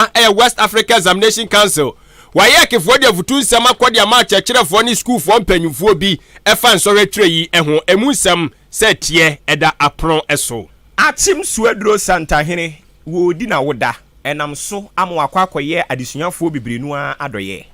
a ɛyɛ West Africa Examination Council, WAEC, foɔ de afotu nsɛm akɔ de ama akyerɛkyerɛfoɔ ne sukuufoɔ mpanyinfoɔ bi ɛfa nsɔhwɛ tire yi ɛho, ɛmu nsɛm sɛ ɛteɛ ɛda apono ɛso. Akyem Suaduro Santahene, wo odi na wo da ɛnam so ama wakɔ akɔyɛ adesuafoɔ bebree no ara adɔyɛɛ.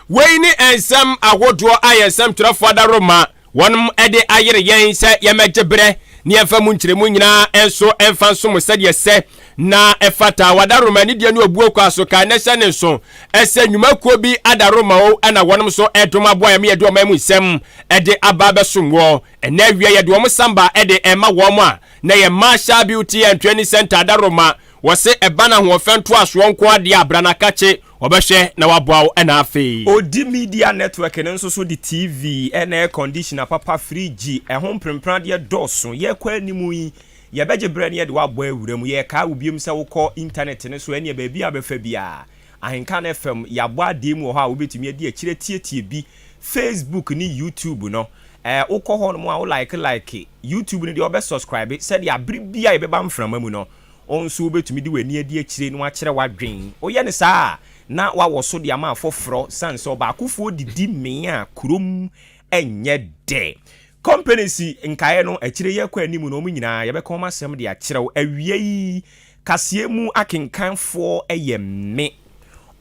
Wei ne ɛnsɛm ahodoɔ a yɛn nsɛmtwerɛfoɔ Ada Roma Wɔn de ayere yɛn sɛ yɛmmɛgye berɛ ne yɛmfa mu nkyerɛmu nyinaa nso mfa nsom sɛdeɛ ɛsɛ na ɛfata. Wadaroma ne deɛ ne obuo kɔ aso kan na hyɛ ne nso sɛ nnwuma kuo bi adaroma o ɛna wɔnom nso dom aboa yɛn ma yɛde ɔman mu nsɛm de aba abɛsom wɔ ɛnɛ awia yɛde wɔn samba de ɛma wɔn a na yɛ Marshall Beauty and Training Center adaroma wɔse ɛba no ahoɔfɛ ntoasoɔ nko adeɛ abranakakye Wɔbɛhwɛ na wɔaboa wo na afei. Odi Media Network no nso so de TV ne air conditioner papa, fridge, ɛho mprempradeɛ dɔɔso. Yɛkɔ anim yi, yɛbɛgye berɛ na yɛde wo abɔ awura mu. Yɛkae wo biom sɛ wokɔ intanɛt no so ɛneɛ baabi a wobɛfa biara, Ahenka no FM, yɛabɔ adee mu wɔ hɔ a wobɛtumi adi akyire atietie bi, Facebook ne YouTube no. Ɛɛ, wokɔ hɔnom a wo like like, YouTube no deɛ wobɛ subscribe sɛdeɛ abere biara yɛbɛba mframa mu no, Wo nso wubetumi de w'ani adi akyire na woakyerɛ w'adwene. Woyɛ no saa a, na woawɔ so de ama afoforɔ sane sɛ ɔbaakofoɔ didi mee a kurom nyɛ dɛ. Companies nkaeɛ no, akyire yi akɔ anim no, wɔn nyinaa, yɛbɛka wɔn asɛm de akyerɛ wo. Awiei, kaseɛ mu akenkanfoɔ yɛ me,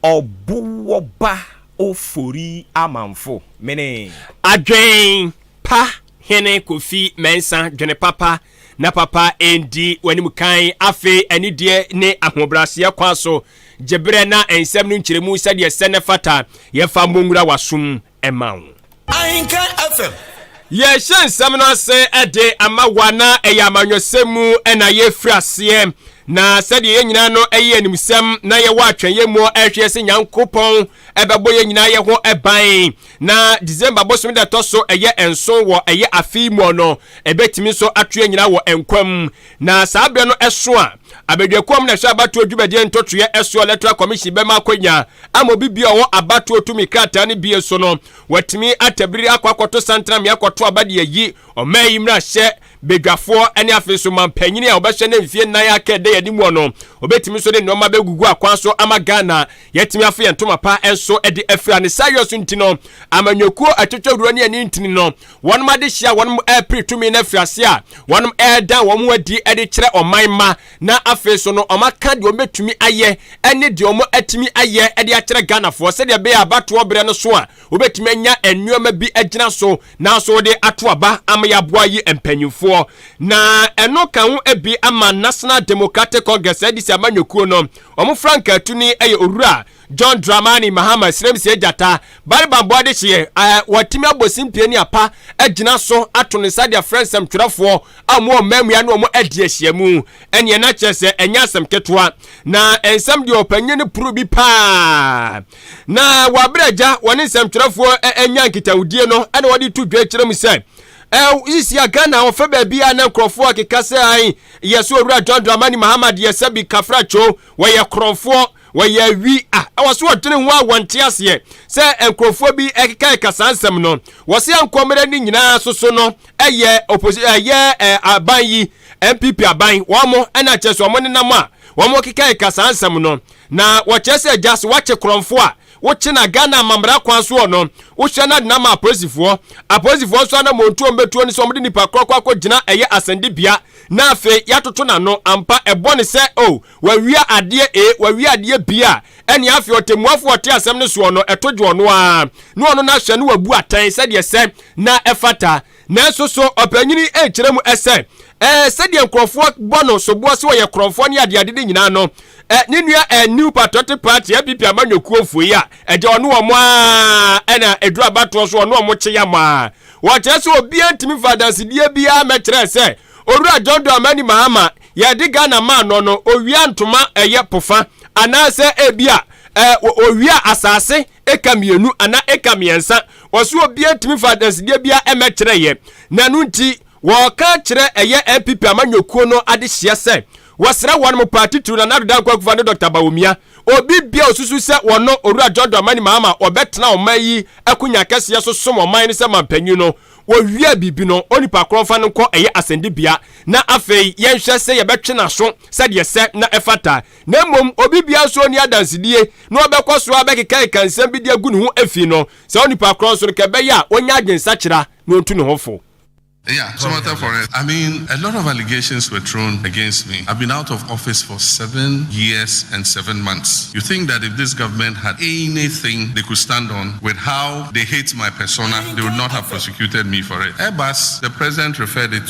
Ɔbowoba Ofori Amanfo. Mene. Adwen pa Hene Kofi Mensah, Dwene papa na papa ɛndi w'anim kan. Afei anideɛ ne ahobrɛaseɛ kwan so gye berɛ na nsɛm no nkyerɛmu sɛdeɛ ɛsɛ na ɛfata. Yɛfa mmɔ nwura w'asom ma wo. Ahenka FM. Yɛrehyɛ nsɛm no ase de ama wo a na ɛyɛ amanyɔsɛm mu na yɛrefiri aseɛ, na sɛdeɛ yɛn nyinaa no ɛyɛ animsɛm na yɛwɔ atwɛnyɛ mu ɛrehwɛ sɛ Nyankopɔn ɛbɛbɔ yɛn nyinaa yɛ ho ban na december bosome da ɛtɔ so ɛyɛ nson wɔ ɛyɛ afei mu no ɛbɛtumi nso ato yɛn nyinaa wɔ nkwam na saa berɛ no ɛso a abadwakuo mu na ɛhwɛ abatoɔ dwumadie ntotoeɛ ɛsoɔ electoral commission bɛma akwanya ama obi bi a ɔwɔ abatoɔ tumi krataa no bie so no watumi atabiri akɔ akɔto santana me akɔto aba de ayi ɔma yi mmarahyɛ badwafoɔ ne afei nso mampanyini a wɔbɛhyɛ no mfeɛ nnan aka ɛda yɛde mu no wɔbɛtumi nso de nneɛma bɛgugu akwan so ama ghana yɛatumi afo yɛn ntoma pa nso de afira ne saa yɔ so nti no amanyɔkuo atwitwawuro ne ani ntini no wɔnom adehyeɛ a wɔnom ɛrepere tumi no afiri ase a wɔnom ɛreda wɔn ho adi de kyerɛ ɔman ma na afei so no ɔmaka deɛ wɔbɛtumi ayɛ ne deɛ wɔn atumi ayɛ de akyerɛ ghanafoɔ sɛdeɛ ɛbɛyɛ abatoɔ berɛ no so a wɔbɛtumi anya nneɛma bi agyina so na so de ato aba ama yɛaboa yi mpanyimfoɔ. Na ɛno ka ho bi ama National Democratic Congress NDC amanyɔkuo no, wɔn frankaatuni yɛ Owura John Dramani Mahama Sremsie Gyata Baribambɔ Adehyeɛ a wɔatumi abɔ simpie ne apa agyina so ato ne nsa de afrɛ nsɛmtwerɛfoɔ a wɔn wɔ mmaamua ne wɔn adi ahyiamu. Ɛneɛ na kyerɛ sɛ ɛnyɛ asɛm ketewa. Na nsɛm deɛ ɔpanyin no puru bi paa. Na wɔ abere a agya wɔne nsɛmtwerɛfoɔ anya nkitahodie no ɛna wɔde to dwa kyerɛ mu sɛ sisi a Ghana wɔfɛ baabi a na nkurɔfoɔ keka sɛ an yɛ so owura John Dramani Mahama deɛ sɛ bi kafrakyoo wɔyɛ korɔmfoɔ wɔyɛ awi a ɛwɔ so wɔdwene ho a wɔnte aseɛ sɛ nkurɔfoɔ bi ɛkeka ɛka saa nsɛm no wɔ se nkɔmmerɛ ne nyinaa so so no ɛyɛ oposi ɛyɛ aban yi NPP aban wɔn ɛna kyerɛ so wɔn nenam a wɔn keka ɛka saa nsɛm no Na wɔkyerɛ sɛ gya so wakye korɔnfo a wokye na Ghana amammara kwan so wɔ no, wohyɛ no adena ma apolisifoɔ. Apolisifoɔ nso anammɔntuo a wɔbɛtuo ne sɛ wɔde nnipa korɔ kɔ akɔgyina ɛyɛ asɛnnibea na afei yɛatoto n'ano. Ampa, ɛbɔ ne sɛ oh, wawia adeɛ ee, wawia adeɛ bii a, ɛnneɛ afei ɔtɛmmuafoɔ a ɔte asɛm no soɔ no, ɛto dwo ɔno ara, na ɔno no ahwɛ na wabu atɛn sɛdeɛ sɛ na ɛfata. Nanso so ɔpanyin yi nkyerɛ mu sɛ ɛɛ sɛdeɛ nkurɔfoɔ bɔ no soboɔ sɛ ɔyɛ korɔmfoɔ ne adeade ne nyinaa no, ɛ ne nua ɛ New Patriotic Party NPP amanyɔkuofoɔ yi a ɛgya ɔne wɔn ara ɛna ɛduru abatoɔ so ɔne wɔn kye yam ara. Wɔkyerɛ sɛ obiara ntumi mfa adansedie biara mmɛkyerɛ sɛ Owura John Dramani Mahama yɛde Ghana maa no no owia ntoma ɛyɛ pofa anaasɛ ebi a ɛ owia asase eka mmienu anaa eka mmiɛnsa Wɔso obiara tumi fa adansedeɛ biara mmɛkyerɛ yɛ, na ɛno nti wɔka kyerɛ ɛyɛ NPP amanyɔkuo no adehyeɛ sɛ wɔsrɛ wɔn mo paa titiriw Nana Addo Dankwa Akufo-Addo ne Dɔkta Bawumia. Obi biara osusu sɛ wɔno Owura John Dramani Mahama ɔbɛtena ɔman yi akunya akɛseɛ so som ɔman no sɛ manpanyin no, wɔwia biribi no, onipa korɔ mfa no nkɔ ɛyɛ asɛnnibea na afei yɛnhwɛ sɛ yɛbɛtwe n'aso sɛdeɛ ɛsɛ na ɛfata. na mmom obi biara nso ɔni adansedie na ɔbɛkɔ so abɛkekaeka nsɛm bi de agu ne ho afi no saa onipa korɔ nso no ka ɛbɛyɛ a ɔnya adwensakyera na ɔntu ne ho fo. Yeah, so much for it. I mean, a lot of allegations were thrown against me. I've been out of office for seven years and seven months. You think that if this government had anything they could stand on with how they hate my persona, they would not have prosecuted me for it. Airbus, the president referred it to.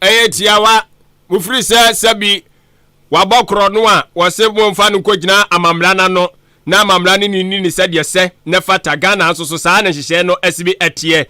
ɛyɛ tiawa mofiri sɛ sɛbi wabɔ korɔ no a wɔse momfa no nkɔgyina amammara no ano na amammara no nini ne sɛdeɛ sɛ na fata ghana nso so saa na nhyehyɛɛ no asi bi ɛteɛ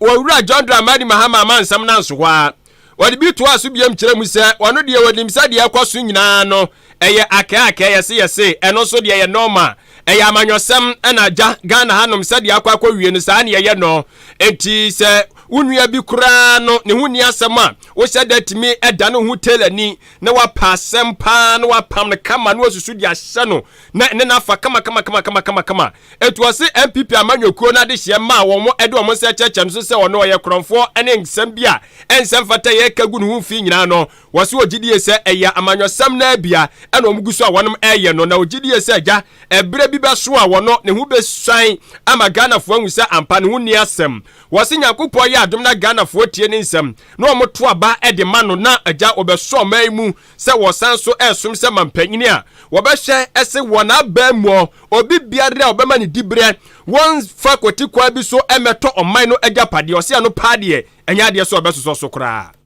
wɔwura john dramani mahama ama nsɛm no anso hɔ a wɔde bi toa so biam kyerɛ mu sɛ wɔno deɛ wɔnim sɛdeɛ ɛkɔ so nyinaa no Ɛyɛ akɛakɛ, yɛse yɛse, ɛno nso deɛ ɛyɛ normal. Ɛyɛ amanyɔsɛm na agya, Ghana hanom sɛdeɛ akɔ akɔwie no saa na yɛyɛ no. Enti sɛ wo nua bi koraa no ne ho nni asɛm a, wohyɛ da tumi da ne ho tailorni na wapa asɛm paa na wapam no kama na wasusu de ahyɛ no na ɛne no afa kamakamakamakama. Enti wɔse NPP amanyɔkuo no adehyeɛ maa wɔn de wɔn nsa kyerɛkyerɛ no so sɛ ɔno ɔyɛ korɔmfoɔ ne nsɛm bi a ɛnsɛ mfata yɛka gu ne ho fii nyinaa no, Wɔso wɔgye die sɛ ɛyɛ amanyɔsɛm no ara bi a ɛna wɔn gu so a wɔnom ɛyɛ no, na wɔgye die sɛ agya ɛberɛ bi bɛso a wɔno ne ho bɛsuan ama Ghanafoɔ ahu sɛ ampa ne ho nni asɛm. Wɔse Nyankopɔn yɛ adom na Ghanafoɔ tie ne nsɛm na wɔn to aba de ma no na agya wɔbɛso ɔman yi mu sɛ wɔsan so ɛresom sɛ mampanyini a wɔbɛhwɛ se wɔn aban mu obi biara a wɔbɛma ne diberɛ wɔn fa kwati kwan bi so ɛmɛtɔ ɔman no agyapadeɛ. Wɔse ɛno paa deɛ ɛnyɛ adeɛ sɛ wɔbɛsosɔ so koraa.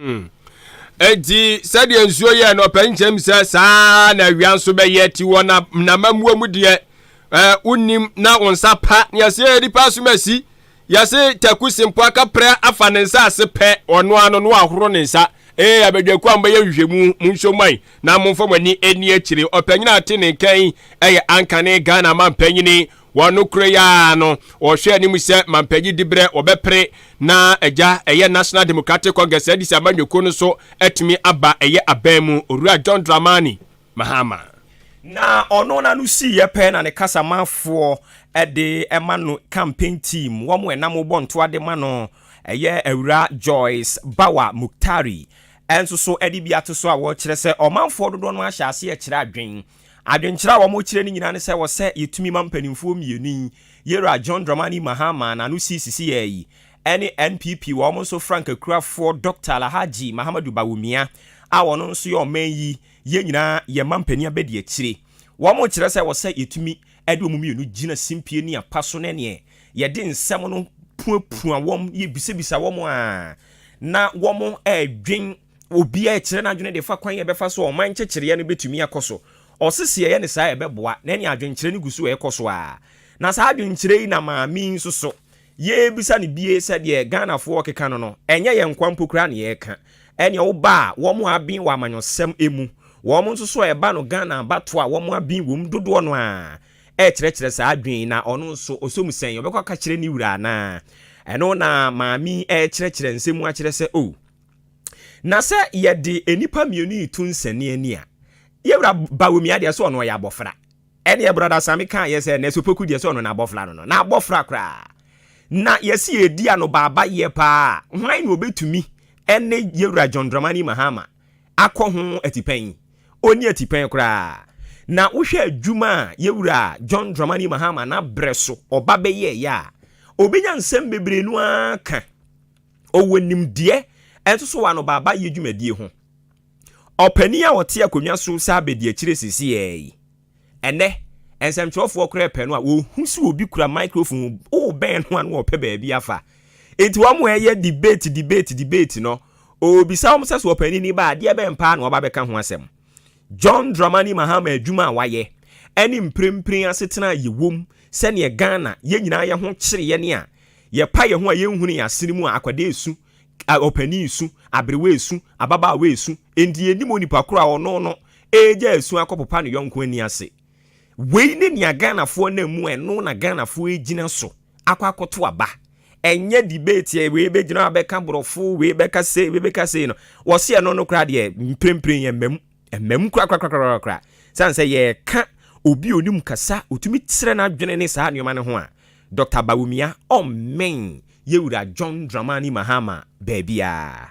Hmm. Enti sɛdeɛ nsuo yɛ no ɔpɛ nkyɛm sɛ saa na awia nso bɛyɛ ti wɔ na namammuo mu deɛ ɛɛ wonim na wɔn nsa pa nea sɛ yɛ nipa so ma si yɛse taku sempo akaprɛ afa ne nsa ase pɛ ɔno ano no ahoro ne nsa ee abadwaku a mbɛyɛ nhwehwɛmu mu nso man na momfa mo ani ani akyire ɔpanyin a ɔte ne nkan ɛyɛ ankane Ghana mampanyini Wɔn nokorɛ yi ara no, wɔhwɛ anim sɛ mampagyi diberɛ wɔbɛpere na agya ɛyɛ National Democratic Congress Addis amanyɔkuo no so atumi aba ɛyɛ aban mu, Owura John Dramani Mahama. Na ɔno no ano siiɛ pɛ na ne kasamafoɔ de ma no campaign team, wɔn a ɛnam bɔ ntoa de ma no ɛyɛ Awura Joyce Bawa Muktari nso so de bi ato so a wɔkyerɛ sɛ ɔmanfoɔ dodoɔ no ahyɛ aseɛ kyerɛ adwen. Adwenkyerɛ a wɔkyerɛ no nyinaa ne sɛ ɛwɔ sɛ yetumi ma mpanimfoɔ mmienu yi, Yera John Dramani Mahama a n'ano sii sisi yɛɛ yi, ne NPP wɔn nso franka kurafoɔ Dɔkta Alahadji Mahamadou Bawumia a ɔno nso yɛ ɔman yi, yɛn nyinaa yɛn mma mpanin abadiakyire. Wɔkyerɛ sɛ ɛwɔ sɛ yetumi de wɔn mmienu gyina simpie ne apa so ne neɛ yɛde nsɛm no puapua wɔn, yebisabisa wɔn a na wɔdwen Obiara rekyerɛ n'adwene de fa kwan a ɛbɛfa so a ɔman nkyekyereɛ no bɛtumi akɔ so. Ɔse sɛ yɛyɛ no saa a ɛbɛboa, na ɛne adwenkyerɛ no gu so rekɔ so ara. Na saa adwenkyerɛ yi na maame yi nso so, yɛrebisa no bie sɛ deɛ Ghanafoɔ rekeka no no, ɛnyɛ yɛn nkoa mpo koraa na yɛreka. Ɛneɛ woba a, wɔn a aben wɔ amanyɔsɛm mu, wɔn nso so a ɛba no Ghana abatoɔ a wɔn aben wɔ mu dodoɔ no ara rekyerɛkyerɛ saa adwene yi na ɔno nso ɔsɔ mu sɛn, ɔbɛkɔ akɔkyerɛ ne wura anaa? Ɛno na maame yi rekyerɛkyerɛ nsɛm mu akyerɛ sɛ, oh. Na sɛ yɛde nnipa mmienu yi to nsɛnneani a, yɛwura Bawumia deɛ sɛ ɔno ɔyɛ abɔfra. Ɛdeɛ brɔda Sami kaa yɛ sɛ Nɛso Poku deɛ sɛ ɔno na abɔfra no no. Na abɔfra koraa. Na yɛsi yɛdi ano baaba yɛ paa a, hwan na ɔbɛtumi ɛne yɛwura John Dramani Mahama akɔ ho atipɛn yi? Ɔnni atipɛn koraa. Na wohwɛ adwuma a yɛwura John Dramani Mahama n'abrɛ so ɔba bɛyɛɛyɛ a, ɔbɛnya nsɛm bebree no ara ka. Ɔwɔ nimdeɛ a ɛto so wɔ anobaabaayɛ dwumadie ho. Ɔpanin a ɔte akonnwa so sɛ abadiakyire seesei yi, ɛnnɛ nsɛmtwerɛfoɔ koraa pɛ no a, wɔhu sɛ obi kura microphone, wobɛn no a na ɔpɛ baabi afa. Enti wɔn a ɛyɛ debate, debate, debate no, ɔbisa wɔn sɛ, so ɔpanin ni ba a, adeɛ bɛn paa na wɔba bɛka ho asɛm? John Dramani Mahama adwuma a wayɛ ne mprempren asetena a yɛwom sɛdeɛ Ghana yɛn nyinaa yɛ ho kyereɛ ne a yɛpa yɛn ho a yɛnhunu yɛn asene mu a akwadaa resu, ɔpanin resu, aberewa resu, ababaawa resu, enti yɛnnim onipa korɔ a ɔno no regya asu akɔpopa ne yɔnko ani ase. Wei ne nea Ghanafoɔ nam mu, ɛno na Ghanafoɔ regyina so akɔ akɔto aba. Ɛnyɛ debate ɛ, wei bɛgyina abɛka borɔfo, wei bɛka sei, wei bɛka sei no. Wɔse ɛno no koraa deɛ mprempren ɛmma mu, ɛmma mu korakorakorakorakora. Sane sɛ yɛka obi onim kasa, otumi kyerɛ n'adwene ne saa nneɛma no ho a, Dɔkta Bawumia ɔmmɛn Yɛwura John Dramani Mahama baabiara.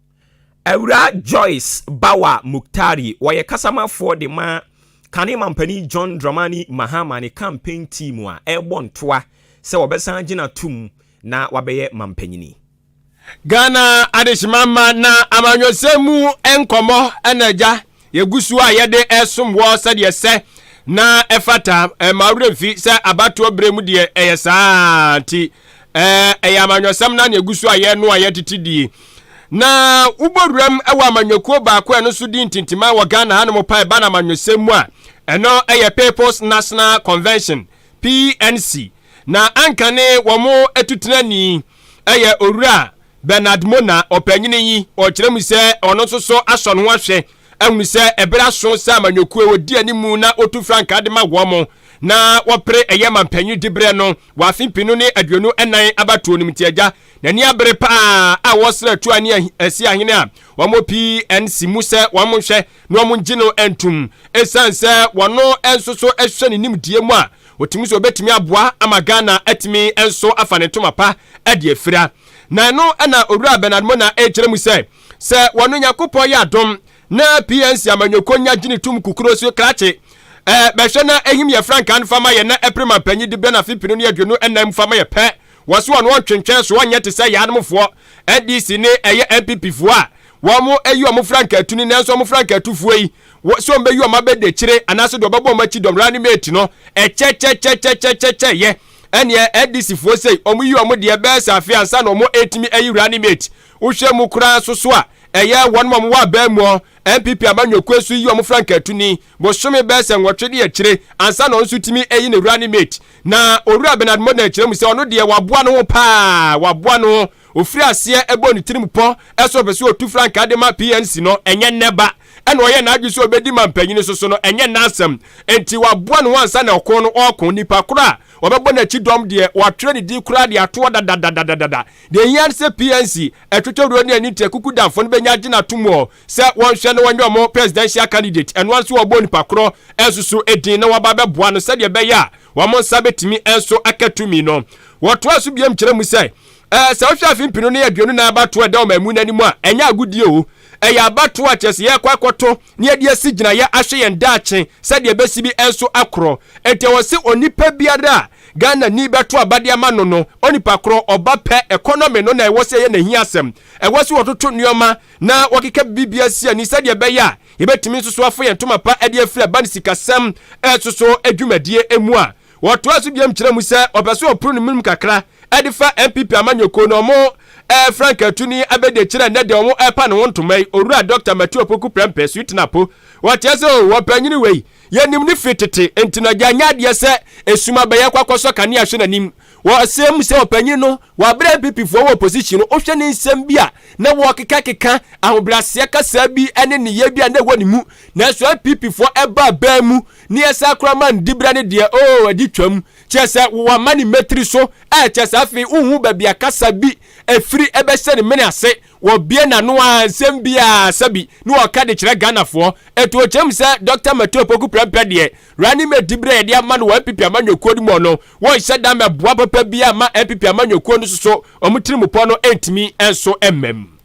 Awuraa Joyce Bawa Mukhtari, ɔyɛ kasamafoɔ de ma kane mampanin John Dramani Mahama ne campaign team a ɛrebɔ ntoa sɛ wɔbɛsan agyina tom na wabɛyɛ mampanyini. Ghana adehyemamma na amanyɔsɛm mu nkɔmmɔ na agya Yɛgu so a yɛde resom wɔ sɛdeɛ ɛsɛ na ɛfata. Ɛma wo werɛ mfi sɛ abatoɔ berɛ mu deɛ ɛyɛ saa nti ɛyɛ amanyɔsɛm na na yɛgu so a yɛno a yɛtete die. Na wobɔ wuram wɔ amanyɔkuo baako a ɛno nso di ntintima wɔ Ghana hanom pa ɛba no amanyɔsɛm mu a ɛno yɛ People's National Convention, PNC. Na anka ne wɔn atutenani ɛyɛ Owura Bernard Mona, ɔpanyin yi, ɔkyerɛ mu sɛ ɔno nso so asɔ ne ho ahwɛ ahunu sɛ ɛbere aso sɛ amanyɔkuo ɔdi anim na ɔtu frankaa de ma wɔn mo na wɔpere ɛyɛ ma mpanyin diberɛ no wɔ afe mpenu ne aduonu ɛnan abatoɔ no mu nti agya n'ani abere paa a wɔsrɛ tua ne asi ahene a wɔn PNC mu sɛ wɔn mo nhwɛ na wɔn ngye no ntum ɛsiane sɛ wɔn nso so ɛhwɛ ne nimdeɛ mu a ɔtumi sɛ ɔbɛtumi aboa ama Ghana atumi nso afa ne ntoma pa ɛde afira Na ɛno na Owura Bernard Mona ɛkyerɛ mu sɛ, sɛ wɔn Nyankopɔn yɛ adom na PNC amanyɔkuo nya gyini tum kukuro so krakye eh, bɛhwɛ na ɛhim yɛ frankaa no fa ma yɛ na ɛpere mampanyi de bɛ na fipini no yɛ aduonu ɛnan mu fa ma yɛ pɛ. Wɔso wɔn wɔntwentwɛn so wɔnyɛ te sɛ yaanomfoɔ, NDC ne ɛyɛ NPP foɔ a wɔn ɛyi wɔn frankaa tu ni nanso wɔn frankaa tu foɔ yi wɔ sɛ wɔn bɛyi wɔn abɛda akyire anaasɛ deɛ wɔbɛbɔ wɔn akyi dɔm running mate no ɛkyɛkyɛkyɛkyɛkyɛkyɛkyɛ yɛ ɛneɛ NDC foɔ sei wɔn yi wɔn deɛ bɛyɛ sɛ afe ansa na wɔn ɛtumi ayi running mate wohwɛ mu koraa nso so a ɛyɛ wɔn wɔn wɔ abɛn mu ɔ NPP amanyɔkuo nso yi wɔn frankatuni bosome bɛyɛ sɛ nwɔtwe ne akyire ansa na wɔn nso tumi ayi ne running mate na owura Bernard Mona akyerɛ mu sɛ ɔno deɛ waboa no ho paa waboa no ho Ɔfiri aseɛ bɔɔ ne tirim pɔ sɛ ɔpɛ sɛ ɔtu frankaa de ma PNC no, ɛnyɛ nnɛ ba. Ɛna ɔyɛɛ n'adwene sɛ ɔbɛdi mampanin so so no, ɛnyɛ nnɛ asɛm. Enti waboa ne ho ansa na ɔko no ɔɔko. Nipa korɔ a ɔbɛbɔ n'akyi dɔm deɛ, wɔatwerɛ ne din koraa de ato hɔ dadadadadada. Deɛ ɛhia ne sɛ PNC atwitwawuro ne ani nteɛ kukudamfo no bɛnya agye no ato mu ɔ sɛ wɔnhwɛ na wɔnyɛ wɔn Presidential candidate. Ɛno ara nso wɔbɔ onipa korɔ nso so din na wɔaba abɛboa no sɛdeɛ ɛbɛyɛ a wɔn nsa bɛtumi nso aka tumi no. Wɔtoaa so biom kyerɛ mu sɛ, Ɛɛ, sɛ wohwɛ afe mpenu ne aduonu nan abatoɔ a ɛda ɔmanmu no anim a, ɛnyɛ agodie o. Ɛyɛ abatoɔ a kyerɛ sɛ yɛrekɔ akɔto na yɛde asi gyinaeɛ ahwɛ yɛn daakye sɛdeɛ ɛbɛsi bi nso akorɔ. Enti ɛwɔ se onipa biara a Ghanani bɛto aba de ama no no, onipa korɔ, ɔba pɛ, economy no na ɛwɔ sɛ ɛyɛ n'ahiasɛm. Ɛwɔ se wɔtoto nnoɔma na wɔkeka biribiara si ani sɛdeɛ ɛbɛyɛ a yɛbɛtumi nso so afa yɛn ntoma pa de afiri aba no sikasɛm so dwumadie mu a Wɔtoa so biom kyerɛ mu sɛ wɔpɛ sɛ wɔporo no mum kakra de fa NPP amanyɔkuo no wɔn Frankaatu ne Abɛdie kyerɛ nnɛ deɛ wɔn ɛpa ne ho ntoma yi, Owura Dɔkta Matthew Opoku Prɛmpɛ, Sweetener Apo. Wɔteɛ sɛ oh, ɔpanyini wei, yɛnim no firi tete, enti no gya nyɛ adeɛ sɛ esum abɛyɛ kɔ akɔsɔ kanea hwɛ n'anim. Wɔsee mu sɛ ɔpanyini no, wabrɛ NPP foɔ wɔ opposition no, wohwɛ ne nsɛm bi a na wɔkekakeka, ahobrɛaseɛ kasaa bi ne nneyɛɛ bi a na ɛwɔ ne mu, nanso NPP foɔ ɛbaa baa mu ne yɛ saa kora man dibra ne deɛ oo adi twam kyɛ sɛ wama ne mɛtiri so ɛkyɛ sɛ afei wohu baabi a kasa bi ɛfiri ɛbɛhyɛ ne mene ase wɔbie n'ano a nsɛm bi a sɛbi ne wɔka de kyerɛ Ghanafoɔ ɛto ɔkyɛm sɛ Dr. Mato Opoku Prɛmpɛ deɛ ra ne mɛdibra yɛde ama no wɔ NPP amanyɔkuo no mu no wɔnhyɛ da mɛboa papa bi ama NPP amanyɔkuo no soso wɔn tirimupɔ no ɛntumi ɛnso ɛmmam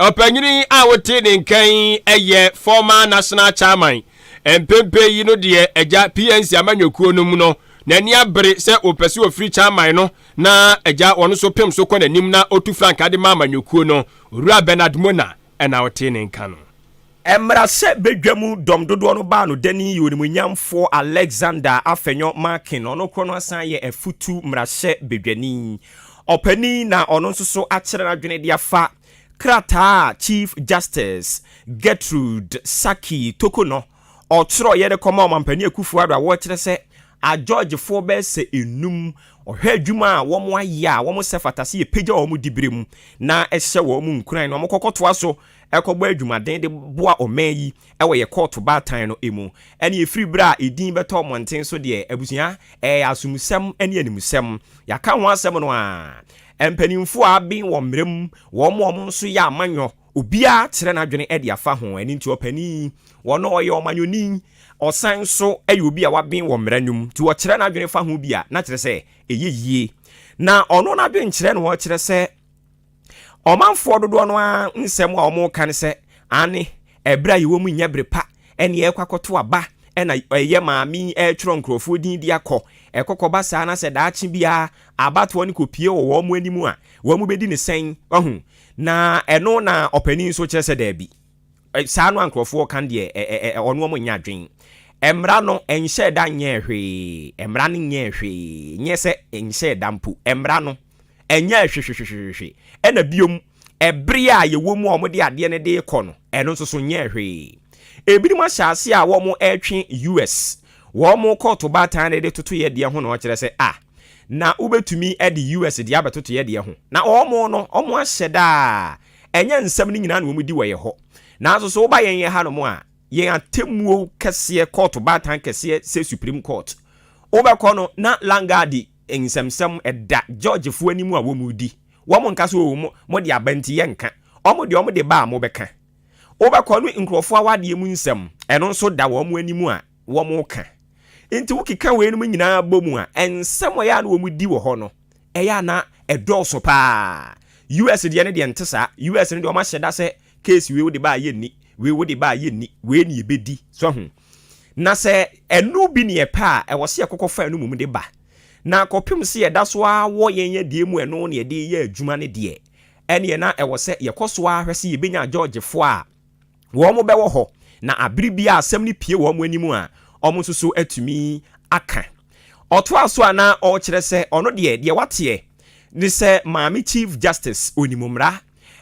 Ɔpanyin a wote ne nka yi yɛ former national chairman mpempe yi no deɛ agya PNC amanyɔkuo no mu no n'ani abere sɛ wɔpɛ sɛ wɔfiri chairman no na agya wɔn nso pem so kɔ n'anim na ɔtu frankaa de ma amanyɔkuo no. Owura Bernard Mona na ɔte ne nka no. Ɛmmra sɛ badwa mu dɔm dodoɔ no baa no dani yɛ onimuonyamfoɔ Alexander Afenyo Markin, ɔno korɔ no asan ayɛ afutu mmarahyɛ badwani ɔpanin na ɔno nso so akyerɛ n'adwene de afa krataa a Chief Justice Gertrude Saki Tokonɔ ɔtwerɛeɛ de kɔmaa Ɔmampanin Akufo Addo a wɔkyerɛ sɛ Agyɔgyefoɔ bɛyɛ sɛ nnum ɔhwɛ adwuma a wɔayɛ a wɔsɛ fata sɛ yɛpagya wɔn diberɛ mu na ɛhyɛ wɔn nkuran na wɔkɔkɔtoa so ɛkɔbɔ adwumaden de boa ɔman yi wɔ yɛ kɔɔto baatan no mu, ɛne ɛfiri berɛ a ɛdin bɛtɔɔ mmɔnten so deɛ, abusua, ɛyɛ asomusɛm ne animusɛm. Yɛaka ho asɛm no a, mpaninfoɔ a aben wɔn mmerɛ mu, wɔn a wɔn nso yɛ amanyɔ, obiara kyerɛ n'adwene de afa ho, ɛno nti ɔpanin yi, ɔno ɔyɛ ɔmanyɔni, ɔsan nso yɛ obi a waben wɔ mmara no mu, nti ɔkyerɛ n'adwene fa ho bi a, na kyerɛ sɛ ɛyɛ yie. Na ɔno n'adwenkyerɛ na ɔkyerɛ sɛ, Ɔmanfoɔ dodoɔ no ara nsɛm a wɔka ne sɛ, Aane, ɛberɛ a yɛwɔ mu nyɛ bere pa, ɛnneɛ yɛrekɔ akɔto aba, ɛna yɛ maame yi retwerɛ nkorɔfoɔ din de akɔ, ɛkɔkɔba saa na sɛ daakye biara abatoɔ no kɔpue wɔ wɔn anim a, wɔbɛdi no sɛn? Wahu? Na ɛno na ɔpanin nso kyerɛ sɛ daabi. Saa no a nkurɔfoɔ ka deɛ ɔno wɔn nyɛ adwen. Mmara no nhyɛɛ da nyɛɛ hwee, mmara no nyɛɛ hwee, nyɛ sɛ nhyɛɛ da mpo, mmara no nyɛɛ hwehwehwehwehwe. Ɛna biom, ɛbere a yɛwɔ mu a wɔn de adeɛ no de rekɔ no, ɛno nso so nyɛɛ hwee. Ebinom ahyɛ aseɛ a wɔn retwe US wɔn kɔɔto baatan de toto yɛ deɛ ho na wɔkyerɛ sɛ a na wobɛtumi de US deɛ abɛtoto yɛ deɛ ho. Na wɔn no, wɔn ahyɛ da a. Ɛnyɛ nsɛm no nyinaa na wɔdi wɔ yɛn hɔ. Nanso sɛ woba yɛn hanom a, yɛn atemmuo kɛseɛ, kɔɔto baatan kɛseɛ sɛ Supreme Court, wobɛkɔ no na Langarde nsɛmnsɛm da jɔɔgyefoɔ anim a wɔredi. Wɔnka sɛ, Oo, mo, mode aba nti yɛnka. Wɔn deɛ, wɔde ba a mobɛka. Wobɛkɔ no nkurɔfoɔ awadeɛ mu nsɛm, ɛno nso da wɔn anim a wɔreka. Enti wokeka weinom nyinaa bɔ mu a, nsɛm a ɛyɛ a na wɔdi wɔ hɔ no, ɛyɛ a na ɛdɔɔso paa. US deɛ no deɛ nte saa. US no deɛ wɔn ahyɛ da sɛ case wei wode baa yɛnni, wei wode baa yɛnni, wei ne yɛbɛdi. So ho? Na sɛ ɛno bi ne yɛpɛ a, ɛwɔ sɛ yɛkɔkɔ fa ɛno mmom de ba. Na kɔpem sɛ yɛda so ara wɔ yɛn adeɛ mu ɛno ne yɛde yɛ adwuma no deɛ, ɛneɛ na ɛwɔ sɛ yɛkɔ so ara hwɛ sɛ yɛbɛnya Georgefoɔ a, wɔbɛwɔ hɔ, na bere bi a asɛm no pue wɔn anim a, wɔn nso so atumi aka. Ɔtoaa so a na ɔrekyerɛ sɛ ɔno deɛ, deɛ wateɛ ne sɛ Maame Chief Justice, ɔnim mmara,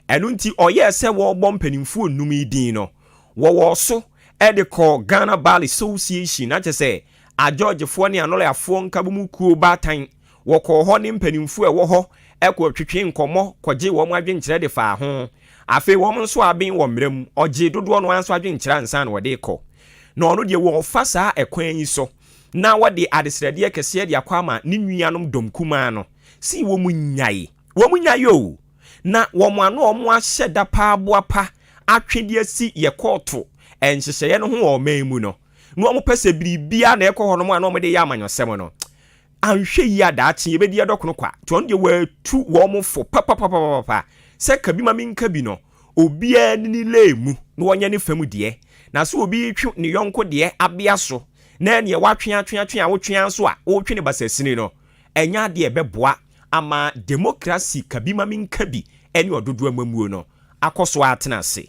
ɛno nti ɔyɛɛ sɛ wɔrebɔ mpanimfoɔ nnum yi din no, wɔwɔɔ so de kɔɔ Ghana Bar Association, na kyerɛ sɛ, Ajɔɔgyefoɔ ne Anɔlayafoɔ Nkabomu Kuo Baatan. Wɔkɔɔ hɔ ne mpanyimfo a ɛwɔ hɔ kɔtwetwee nkɔmmɔ kɔgyee wɔn adwenkyerɛ de faa ho. Afei wɔn nso aben wɔ mmara mu. Ɔgyee dodoɔ no ara nso adwenkyerɛ ansa na ɔde rekɔ. Na ɔno deɛ wɔrefa saa ɛkwan yi so na wɔde adesrɛdeɛ kɛseɛ de akɔ ama ne nuanom dɔm kumaa no se wɔnnyae. Wɔnnyae o! Na wɔn ano a wɔahyɛ da paa boapa atwe de asi yɛ kɔɔto nhyehyɛeɛ no ho wɔ ɔman mu no, na wɔpɛ sɛ biribiara na ɛkɔ hɔnom a na wɔde yɛ amanyɔsɛm no, Anhwɛ yie a daakye yɛbɛdi yɛ dɔkono kwa. Nti ɔno deɛ watu wɔn fo papapapapapa sɛ ka bi ma menka bi no, obiara ni ne lane mu na ɔnyɛ ne fam deɛ. Na sɛ obi retwe ne yɔnko deɛ abea so na ɛneɛ woatwe atwe atwe a wotwe ara nso a woretwe no basasini no, ɛnyɛ adeɛ a ɛbɛboa ama demokrasi ka bi ma menka bi ne ɔdodoɔ amammuo no akɔ so ara atena ase.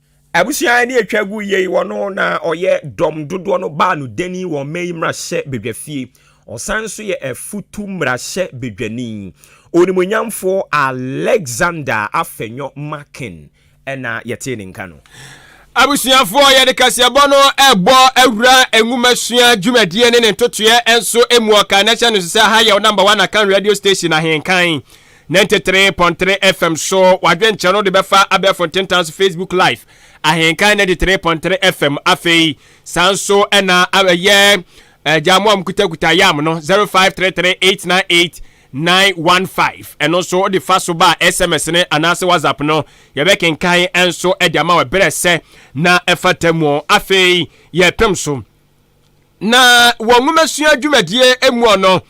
Abusua a ɛne atwa gu yei wɔ no na ɔyɛ dɔm dodoɔ no baa no dani wɔ ɔman yi mmarahyɛ badwafie. Ɔsan nso yɛ afutu mmarahyɛ badwani. Onimuonyamfoɔ Alexander Afenyo Makin na yɛtee ne nka no. Abusuafoɔ, yɛde kaseɛbɔ no rebɔ awura nwomasua dwumadie ne ne ntotoeɛ nso mu. Ɔkaa no hyɛ no nso sɛ ha yɛ wo number one Akan radio station Ahenkan. 93.3 FM so wadwenkyerɛ no de bɛfa abɛɛfo ntentan so Facebook live ahenkan 93.3 FM afei saa nso ɛna ɛyɛ agya mo a mokutakuta yam no 0533898915 ɛno nso wode fa so ba a sms ne anaasɛ whatsapp no yɛbɛkenkan nso de ama wɔ berɛ sɛ na ɛfata mu afei yɛpem so Na wɔ nwomasua dwumadie muɔ no,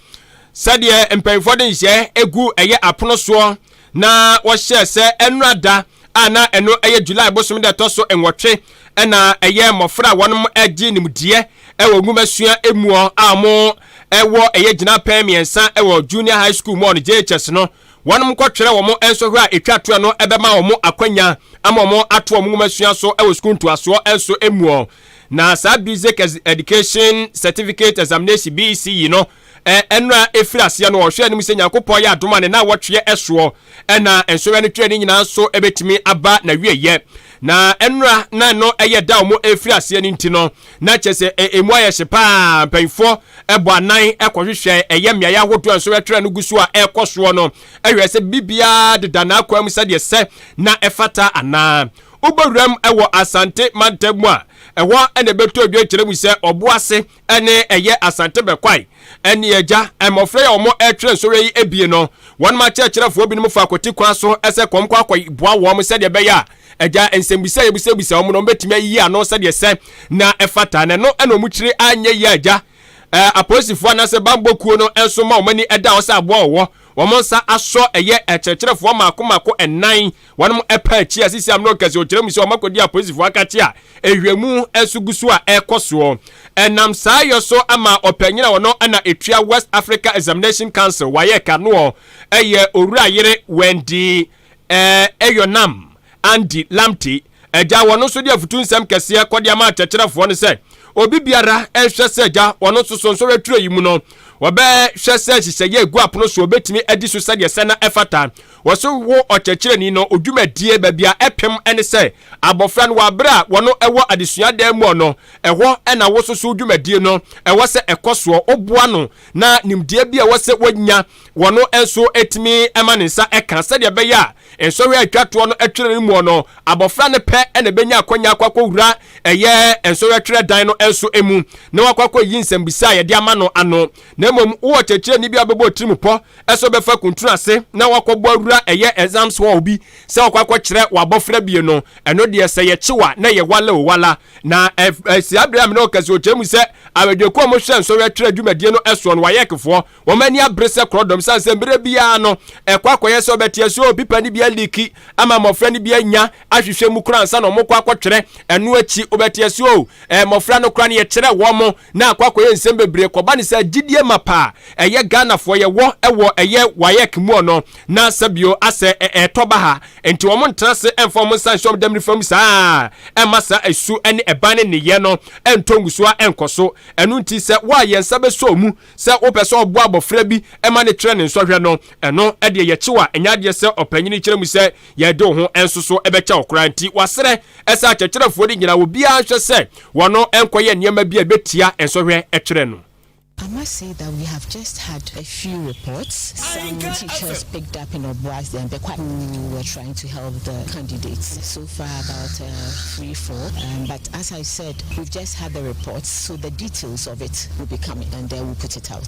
sɛdeɛ mpanyinfoɔ de nhyɛ gu ɛyɛ apono soɔ na wɔhyɛɛ sɛ ɛnora da a na ɛno ɛyɛ July bosom da ɛtɔ so nwɔtwe ɛna ɛyɛ mmɔfra a wɔnom ɛgye nimdeɛ ɛwɔ nwomasua muɔ a wɔn ɛwɔ ɛyɛ gyina pɛn mmiɛnsa ɛwɔ Junior High School muɔ no JHS no wɔnom kɔ twerɛ wɔn nsɔhwɛ a ɛtwa toɔ no ɛbɛma wɔn akwanya ama wɔn ato wɔn nwomasua so ɛwɔ sukuu ntoasoɔ ɛnso muɔ. Na saa Basic Education Certificate Examination, BECE, no, ɛnora ɛfiri aseɛ no, ɔhwɛ anim sɛ Nyankopɔn yɛ adom a ne na wɔtweɛ ɛsoɔ, ɛna nsoeɛ no twerɛ ne nyinaa nso ɛbɛtumi aba na wieɛ. Na ɛnora na ɛno ɛyɛ da a wɔn ɛfiri aseɛ no nti no, na kyɛ sɛ ɛmu ayɛ hye paa, mpanyinfoɔ ɛbɔ anan ɛkɔhwehwɛ ɛyɛ mmeaeɛ ahodoɔ a nsoeɛ twerɛ no gu so a ɛrekɔ soɔ no, ɛhwɛ sɛ biribiara deda n'akwan mu sɛdeɛ ɛsɛ na ɛfata anaa. Wobɔ wuram wɔ Asante mantam mu a, ɛhɔ na ɛbɛtɔ dwa kyerɛ mu sɛ Ɔboase ne ɛyɛ Asante Bɛkwae. Ɛnneɛ agya, mmɔfra yi a wɔretwerɛ nsɔhwɛ yi bie no, wɔnom akyerɛkyerɛfoɔ binom fa kɔti kwan so sɛ kɔm kɔ akɔ boa wɔn sɛdeɛ ɛbɛyɛ a agya nsɛmbisa a yɛbisabisa wɔn no wɔbɛtumi ayiyi ano sɛdeɛ sɛ na ɛfata na ɛno na wɔn kyiri anyɛ yie agya. Apolisifoɔ anaasɛ bambɔ kuo no nso ma wɔn ani da hɔ sɛ aboa wɔwɔ wɔn nsa asɔ ɛyɛ akyerɛkyerɛfoɔ mmaako mmaako nnan Wɔnom ɛpaa akyi a sisi amena ɔkɛse ɔkyerɛ mu sɛ wɔn akɔdi apolisifo akakye a ɛhwɛmu nso gu so a ɛkɔ soɔ. Ɛnam saa yɔ so ama ɔpanyin a ɔno na ɛtua West Africa Examination Council, WAEC, anoɔ ɛyɛ Owura Yere Wendy Eyornam Andy Lamptey agya wɔn nso de afutu nsɛm kɛseɛ kɔde ama akyɛkyerɛfoɔ no sɛ obi biara ɛnhwɛ sɛ agya wɔn nso so nsɔhwɛ turo yi mu no wɔbɛhwɛ sɛ nhyehyɛeɛ egu apono so obetumi adi so sɛdeɛ sɛ na ɛfata Wɔso wo ɔkyerɛkyerɛni no odwumadie baabi a ɛpem ne sɛ abɔfra no wɔ abere a wɔno wɔ adesua dan muɔ no, ɛhɔ na wo soso wo dwumadie no ɛwɔ sɛ ɛkɔ soɔ, wo boa no na nimdeɛ bi a ɛwɔ sɛ wɔnya wɔno nso tumi ma ne nsa ɛka sɛdeɛ ɛbɛyɛ a nsɔhwɛ a ɛtwa toɔ no ɛtwerɛ no muɔ no abɔfra no pɛ na ɛbɛnya akwanya akɔ akɔ wura ɛyɛ nsɔhwɛ twerɛ dan no nso mu na wakɔ akɔ yi nsɛmbisa a yɛde ama no ano. na mmom wowɔ kyerɛkyerɛni bi a ɔbɛbɔ tirim pɔ sɛ ɔbɛfa kuntunu ase na wakɔbɔ awura ɛyɛ exams hall bi sɛ ɔkɔ akɔkyerɛ w'abɔfra bie no, ɛno deɛ sɛ yɛkye wa na ɛyɛ wala o wala. Na ɛsi abere a me ne wo kasa ɔkyerɛ mu sɛ adwadiakuo a wɔhwɛ nsɔhwɛ twerɛ dwumadie no soɔ no, WAECfoɔ, wɔn ani abere sɛ korɔdɔm sane sɛ mmerɛ biara no ɛkɔ akɔyɛ sɛ ɔbɛteɛ so pipa no bi aliiki ama mmɔfra no bi anya ahwehwɛ mu koraa ansa na wɔkɔ akɔtwerɛ, ɛno akyi wobɛteɛ so mmɔfra no koraa no yɛkyerɛ wɔn na akɔ akɔyɛ nsɛm bebree kɔba ne sɛ gyidie mapa a ɛyɛ Ghanafoɔ yɛwɔ wɔ ɛyɛ waec mu ɔno na sɛbio asɛ ɛɛtɔ ba ha nti wɔn ntena ase ɛmfa wɔn nsa nhyɛ wɔn dɛm nifa mu saa ɛmma saa ɛsu ɛne ɛban ne nneyɛ no ɛntɔ ngusoa ɛnkɔ so ɛno nti sɛ wo a yɛn nsa bɛsɔ ɔmu sɛ wopɛ sɛ ɔboa abɔfra bi ɛma ne twerɛ ne nsɔhwɛ no ɛno ɛdeɛ yɛkyewa ɛnyɛ adeɛ sɛ ɔpanyini kyerɛ mu sɛ Yɛde wo ho nso so bɛkyɛ wo koraa nti, wɔasrɛ sɛ akyerɛkyerɛfoɔ no nyinaa obiara nhwɛ sɛ wɔn nkɔyɛ nneɛma bi a ɛbɛtia nsɔhwɛ kyerɛ no. I must say that we have just had a few reports, some teachers picked up in Obuas then Bekwai who were trying to help the candidates, so far about uh, three, four, um, but as I said, we've just had the reports, so the details of it will be coming and then we'll put it out.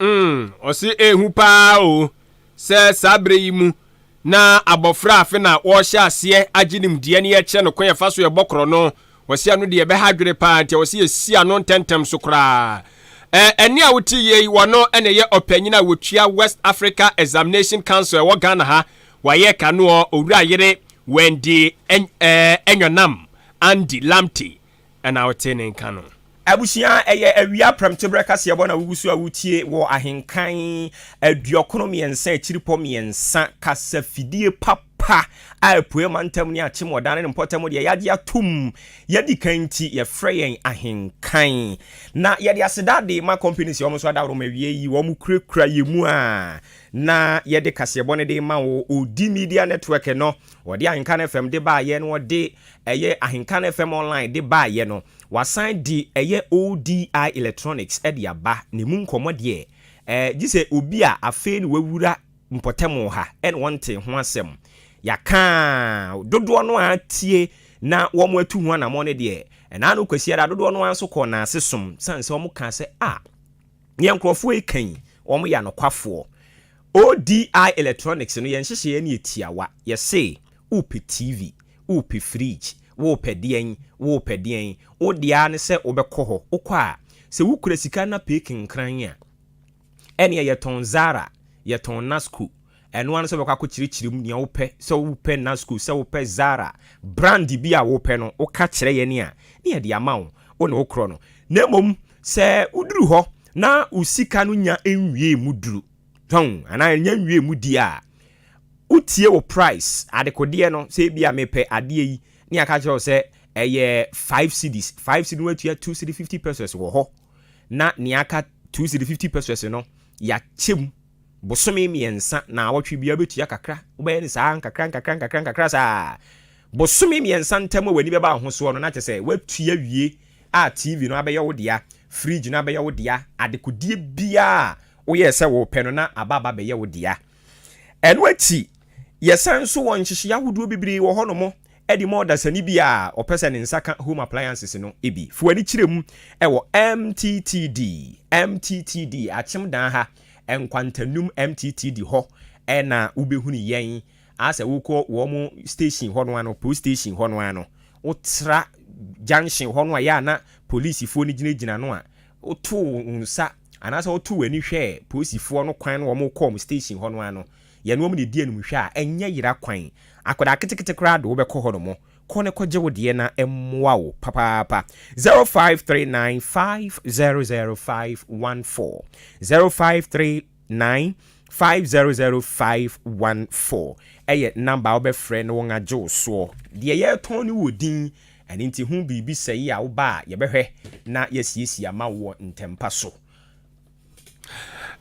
Mm, ɔse ehu paa o, sɛ saa berɛ yi mu na abɔfra afe na wɔrehyɛ aseɛ agye nimdeɛ na yɛkyerɛ no kwan yɛfa so yɛbɔ korɔ no, ɔse ɛno deɛ ɛbɛha adwene paa nti ɔse yɛsi ano ntɛntɛm so koraa. Ɛnne a wote yie yi, wɔno na ɛyɛ ɔpanyin a wɔtua West Africa Examination Council ɛwɔ Ghana ha, wayɛ kanoɔ, Owura Yere Wendy Anyanam Andy Lamptey na ɔte ne nka no. Abusua, Ɛyɛ awia prɛmteberɛ kaseɛbɔ na woguso a woretie wɔ ahenkan aduɔkron mmiɛnsa akyiripɔ mmiɛnsa kasafidie papa a apueɛ mantam ne akyem ɔdane ne mpɔtam deɛ yɛagye atom yɛdikan nti yɛfrɛ yɛn ahenkan na yɛde aseda de ma companies a wɔn nso adaworo ma awie yi wɔn kurakura yɛn mu a na yɛde kaseɛbɔ no de ma wo odi media network no wɔde ahenkan fm de baayɛ na wɔde ɛyɛ Ahenka no FM Online de baeɛ no, wasan de ɛyɛ ODI Electronics de aba, na ɛmu nkɔmmɔ deɛ, eh, gye sɛ obi a afei na wawura mpɔtam wɔ ha na wɔntee ho asɛm. Yɛaka a, dodoɔ no ara tie na wɔatu ho anammɔn no deɛ, ɛna ano Kwasiada dodoɔ no ara nso kɔɔ Naase som, sane sɛ wɔkaa sɛ, ah, deɛ nkurɔfoɔ reka yi, wɔyɛ anokwafoɔ. ODI Electronics no, yɛn nhyehyɛeɛ no yɛ tiawa. Yɛse, Wopɛ TV, wopɛ fridge, wopɛ deɛn, wopɛ deɛn, wo deɛ ara ne sɛ wobɛkɔ hɔ. Wokɔ a, sɛ wokura sika na pick nkran a, ɛnneɛ yɛtɔn Zara, yɛtɔn Nasco. Ɛno ara ne sɛ wobɛkɔ akɔkyerɛkyerɛ mu deɛ wopɛ, sɛ wopɛ Nasco, sɛ wopɛ Zara, brand bi a wopɛ no, woka kyerɛ yɛn a, na yɛde ama wo, wo na wokorɔ no. Na mmom sɛ woduru hɔ na wo sika no nya nwiee mu duru, tɔn anaa ɛnyɛ nwie mu di a, wotie wo price adekodeɛ no sɛ ebi a mepɛ adeɛ yi ne yɛaka kyerɛ wo sɛ ɛyɛ five cedis five cedis no atua two cedi fifty pesos wɔ hɔ na nea aka two cedi fifty pesos no yɛakyɛ mu bosome mmiɛnsa na awɔtwe bia bɛtua kakra wobɛyɛ ne saa nkakra nkakra nkakra nkakra saa bosome mmiɛnsa ntam a w'ani bɛba ahosoɔ no na kyɛ sɛ woatua wie a tv no abɛyɛ wo dea fridge no abɛyɛ wo dea adekodeɛ biaa Woyɛɛ sɛ worepɛ no na aba aba bɛyɛ wo dea. Ɛno akyi, yɛsan nso wɔ nhyehyeɛ ahodoɔ bebree wɔ hɔnom de ma ɔdasani bia a ɔpɛ sɛ ne nsa ka home appliances no bi. Fa w'ani kyerɛ mu wɔ MTTD, MTTD, Akyem Dan ha, Nkwantanum MTTD hɔ na wobɛhunu yɛn. Asɛ wokɔ wɔn station hɔ no ara no, police station hɔ no ara no, wotra junction hɔ no a yɛ a na polisifoɔ no gyinagyina no a, Wotoo wo nsa anaasɛ wotoo w'ani hwɛɛ polisifoɔ no kwan na wɔkɔɔ wɔn station hɔ no a no, yɛne wɔn na ɛdi anim hwɛ a, ɛnyɛ yera kwan. Akwadaa ketekete koraa de wo bɛkɔ hɔ nom. Kɔ na kɔgye wo deɛ na ɛmmoa wo papaapa. 0539 500 514 053. nine five zero zero five one four ɛyɛ number a wobɛfrɛ na wɔn agye wo soɔ. Deɛ yɛretɔn no wɔ din, ɛno nti ho biribi sɛeɛ a woba a yɛbɛhwɛ na yɛasiesie ama wo wɔ ntɛmpa so.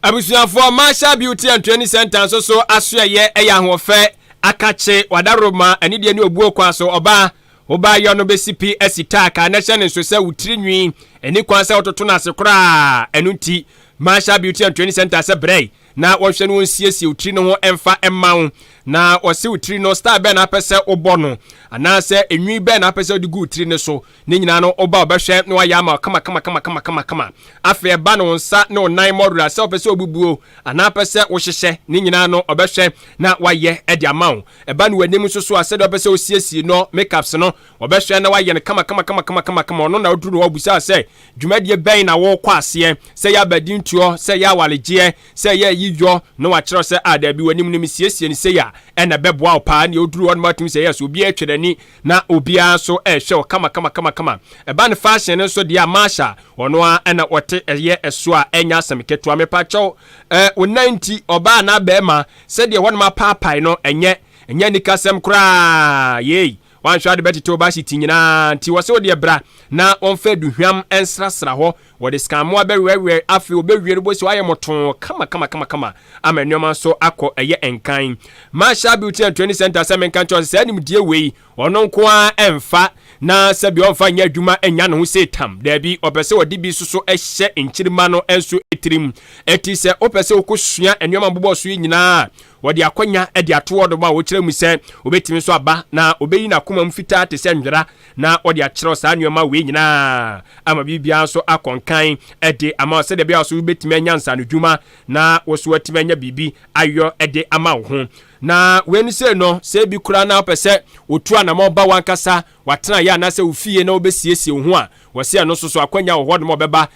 Abusuafoɔ, Marshall Beauty and Training Center nso so asoɛeɛ yɛ ahoɔfɛ, akakye, wadaroma, anidie ne obuo kwan so ɔbaa. Wo baayɔ no bɛsi pi asi tack a na ɛhyɛ ne nso sɛ wo tiri nwi ɛni kwan sɛ wototo no ase koraa. Ɛno nti, Marshall Beauty and Training Center sɛ brɛ na wɔnhwɛ no wɔnsiesie wo tiri no ho ɛmfa ɛma wo. Na wɔse wo tiri no style bɛn na apɛ sɛ wobɔ no anaasɛ enwi bɛn na apɛ sɛ wode gu wo tiri no so. Ne nyinaa no woba wɔbɛhwɛ na wɔayɛ ama wo kama kama kama kama kama kama. Afei ɛba no wo nsa ne wo nan mmɔdora sɛ wopɛ sɛ wobubuo Anaa pɛ sɛ wohyehyɛ ne nyinaa no ɔbɛhwɛ na wayɛ de ama wo. Ɛba no w'anim nso so a, sɛdeɛ ɔpɛ sɛ wosiesie no makeups no, ɔbɛhwɛ na wayɛ no kamakamakamakama. Ɔno na ɔduru no hɔ ɔbisa wo sɛ, dwumadie bɛn na worekɔ aseɛ? Sɛ ɛyɛ abadintuo, sɛ ɛyɛ awaregyeɛ, sɛ ɛyɛ ayiyɔ, na wakyerɛ wo sɛ, ah, dabi, w'anim no mesiesie no sei a, ɛna ɛbɛboa wo paa. Ɛnneɛ ɔduru hɔ no, woatumi sɛ, yes, obiara atwa n'ani. Na obiara nso rehwɛ wo kamakamakamakama. Ɛba no fashion no nso deɛ a, Marsha, ɔno ara ɛna ɔte ɛyɛ ɛso a ɛnyɛ asɛm ketewa. Mepakyɛw, eh, wo nan nti, ɔbaa anaa barima, sɛdeɛ hɔnom apaapae no, ɛnyɛ, ɛnyɛ anikasɛm koraa, yei. Woanhwɛ a wode bɛtete wo bahyeti nyinaa, nti wɔse wo deɛ bra na wɔmfa aduhwam nsrasra hɔ. Wɔde sekammoa bɛwerɛwerɛ, afei wɔbɛwie no, wobɛhu sɛ wɔayɛ mmɔtoo kamakamakama ama nneɛma nso akɔ ɛyɛ nkan. Marshall Beauty and Training Centre sɛ menka nkyerɛ wo sɛ saa nimdeɛ wei ɔno nko ara mfa na sɛbi ɔmfa nyɛ adwuma nnya ne ho sei tam. Daabi, ɔpɛ sɛ ɔde bi nso so hyɛ nkyirimma no nso tirim. Enti sɛ wopɛ sɛ wokɔsua nneɛma a mobobɔ so yi nyinaa a, wɔde akwanya de ato hɔ de ma wo, kyerɛ mu sɛ wobɛtumi nso aba na ɔbɛyi n'akomam fitaa te sɛ nwera Na ɔde akyerɛw saa nneɛma wei nyinaa ama biribiara nso akɔ nkan de ama wo sɛdeɛ ɛbɛyɛ a so wobɛtumi anya nsaanodwuma na wo so woatumi anya biribi ayɔ de ama wo ho. Na wei no sei no, sɛ ebi koraa na wopɛ sɛ wotu anamɔ ba w'ankasa w'atenaeɛ anaasɛ wo fie na wobɛsiesie wo ho a, wɔse ɛno nso so akwanya wɔ hɔnom a ɔbɛba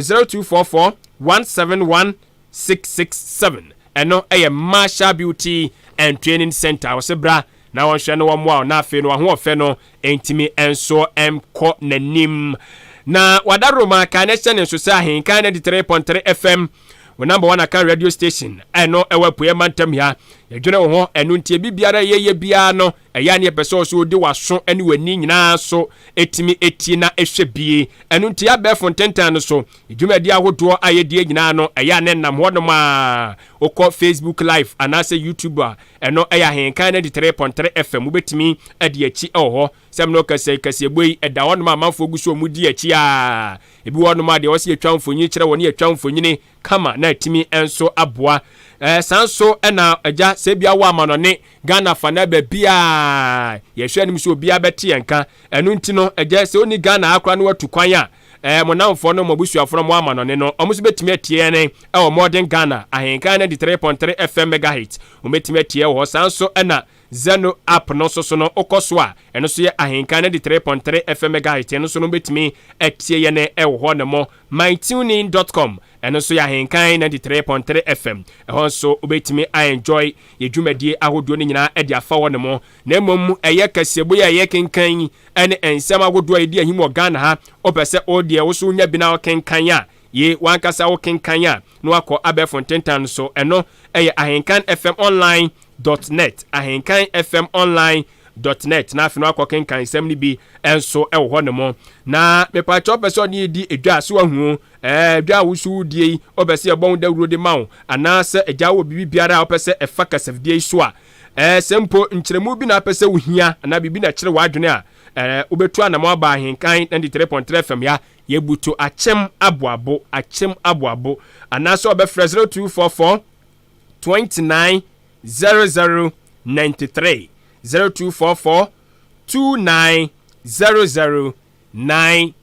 Zero two four four one seven one six six seven ɛno ɛyɛ Marshall Beauty and Training Center wɔsɛ bra na wɔnhwɛ no wɔmmoa wo na afei no w'ahoɔfɛ no ntumi nso nkɔ n'anim na wada roma kan na ɛhyɛ ne nso sɛ ahenkan 93.3 fm wo number one akan radio station ɛno ɛwɔ apueɛ mantam ha yɛdwene wo ho ɛno nti ebi biara yɛyɛ biara no Ɛyɛ a na yɛpɛ sɛ ɔso wode w'aso ne w'ani nyinaa so tumi tie na hwɛ bie. Ɛno nti, abɛɛfo ntentan no so dwumadi ahodoɔ a yɛdie nyinaa no, ɛyɛ a na ɛnam hɔnom a wokɔ Facebook Live anaasɛ YouTube a, ɛno yɛ Ahenkan 93.3 FM. Wobɛtumi adi akyi wɔ hɔ. Sɛm no kɛsɛ kɛseɛbɔ yi, ɛda hɔnom a amanfoɔ gu so wɔn di akyi a ebi wɔ hɔnom a deɛ ɔsɛ yɛtwa mfonyin kyerɛ wɔ ne yɛtwa mfonyini kama na atumi nso aboa eh, saa nso na agya sɛ bia wɔ amanɔne Ghana fa na baabi a yɛhwɛ anim sɛ obiara bɛte yɛn ka ɛno nti no agya sɛ ɔni Ghana akora no watu kwan a eh, mo namfoɔ no mo abusuafoɔ no mo amanɔne no wɔn nso bɛtumi atie yɛn eh, ɛwɔ Modern Ghana ahenkan 93.3 FM megahertz wɔn bɛtumi atie wɔ hɔ saa nso na Zeno app no nso so no, wokɔ so a, ɛno nso yɛ ahenka no de three point three FM megahertz, ɛno nso no wobɛtumi atie yɛn wɔ hɔ nom. Mytunein dot com, ɛno nso yɛ ahenka ninety three point three FM, ɛhɔ nso wobɛtumi a enjoy yɛn dwumadie ahodoɔ no nyinaa de afa hɔ nom. Na mmom ɛyɛ kaseɛbɔ yi a yɛrekenkan yi ne nsɛm ahodoɔ a ɛdi ahim wɔ Ghana ha, wopɛ sɛ wo deɛ wo nso wonya bi na wokenkan a, yei w'ankasa wokenkan a na woakɔ abɛɛfo ntentan no so, ɛno yɛ ahenka FM online Dot Net, Ahenkan FM Online Dot Net, na afei no akɔ kenkan nsɛm no bi nso wɔ hɔ nom. Na mepakyɛ ɔpɛ sɛ ɔne yɛdi edwa a, sɛ wahu o, ɛɛ, edwa a woso wodie yi, ɔpɛ sɛ yɛbɔ ho dawuro de ma wo, anaasɛ agya wɔ biribi biara a ɔpɛ sɛ ɛfa kasafidie yi so a, ɛɛ, sɛ mpo nkyerɛmu bi na apɛ sɛ wohia, anaa biribi na ɛkyere w'adwene a, ɛɛ, wobɛtu anamɔ aba Ahenkan 93.3 FM ya, yɛbutu akyem aboabo, akyem aboabo, anaasɛ ɔbɛfrɛ 0244. twenty nine zero zero ninety three zero two four four two nine zero zero nine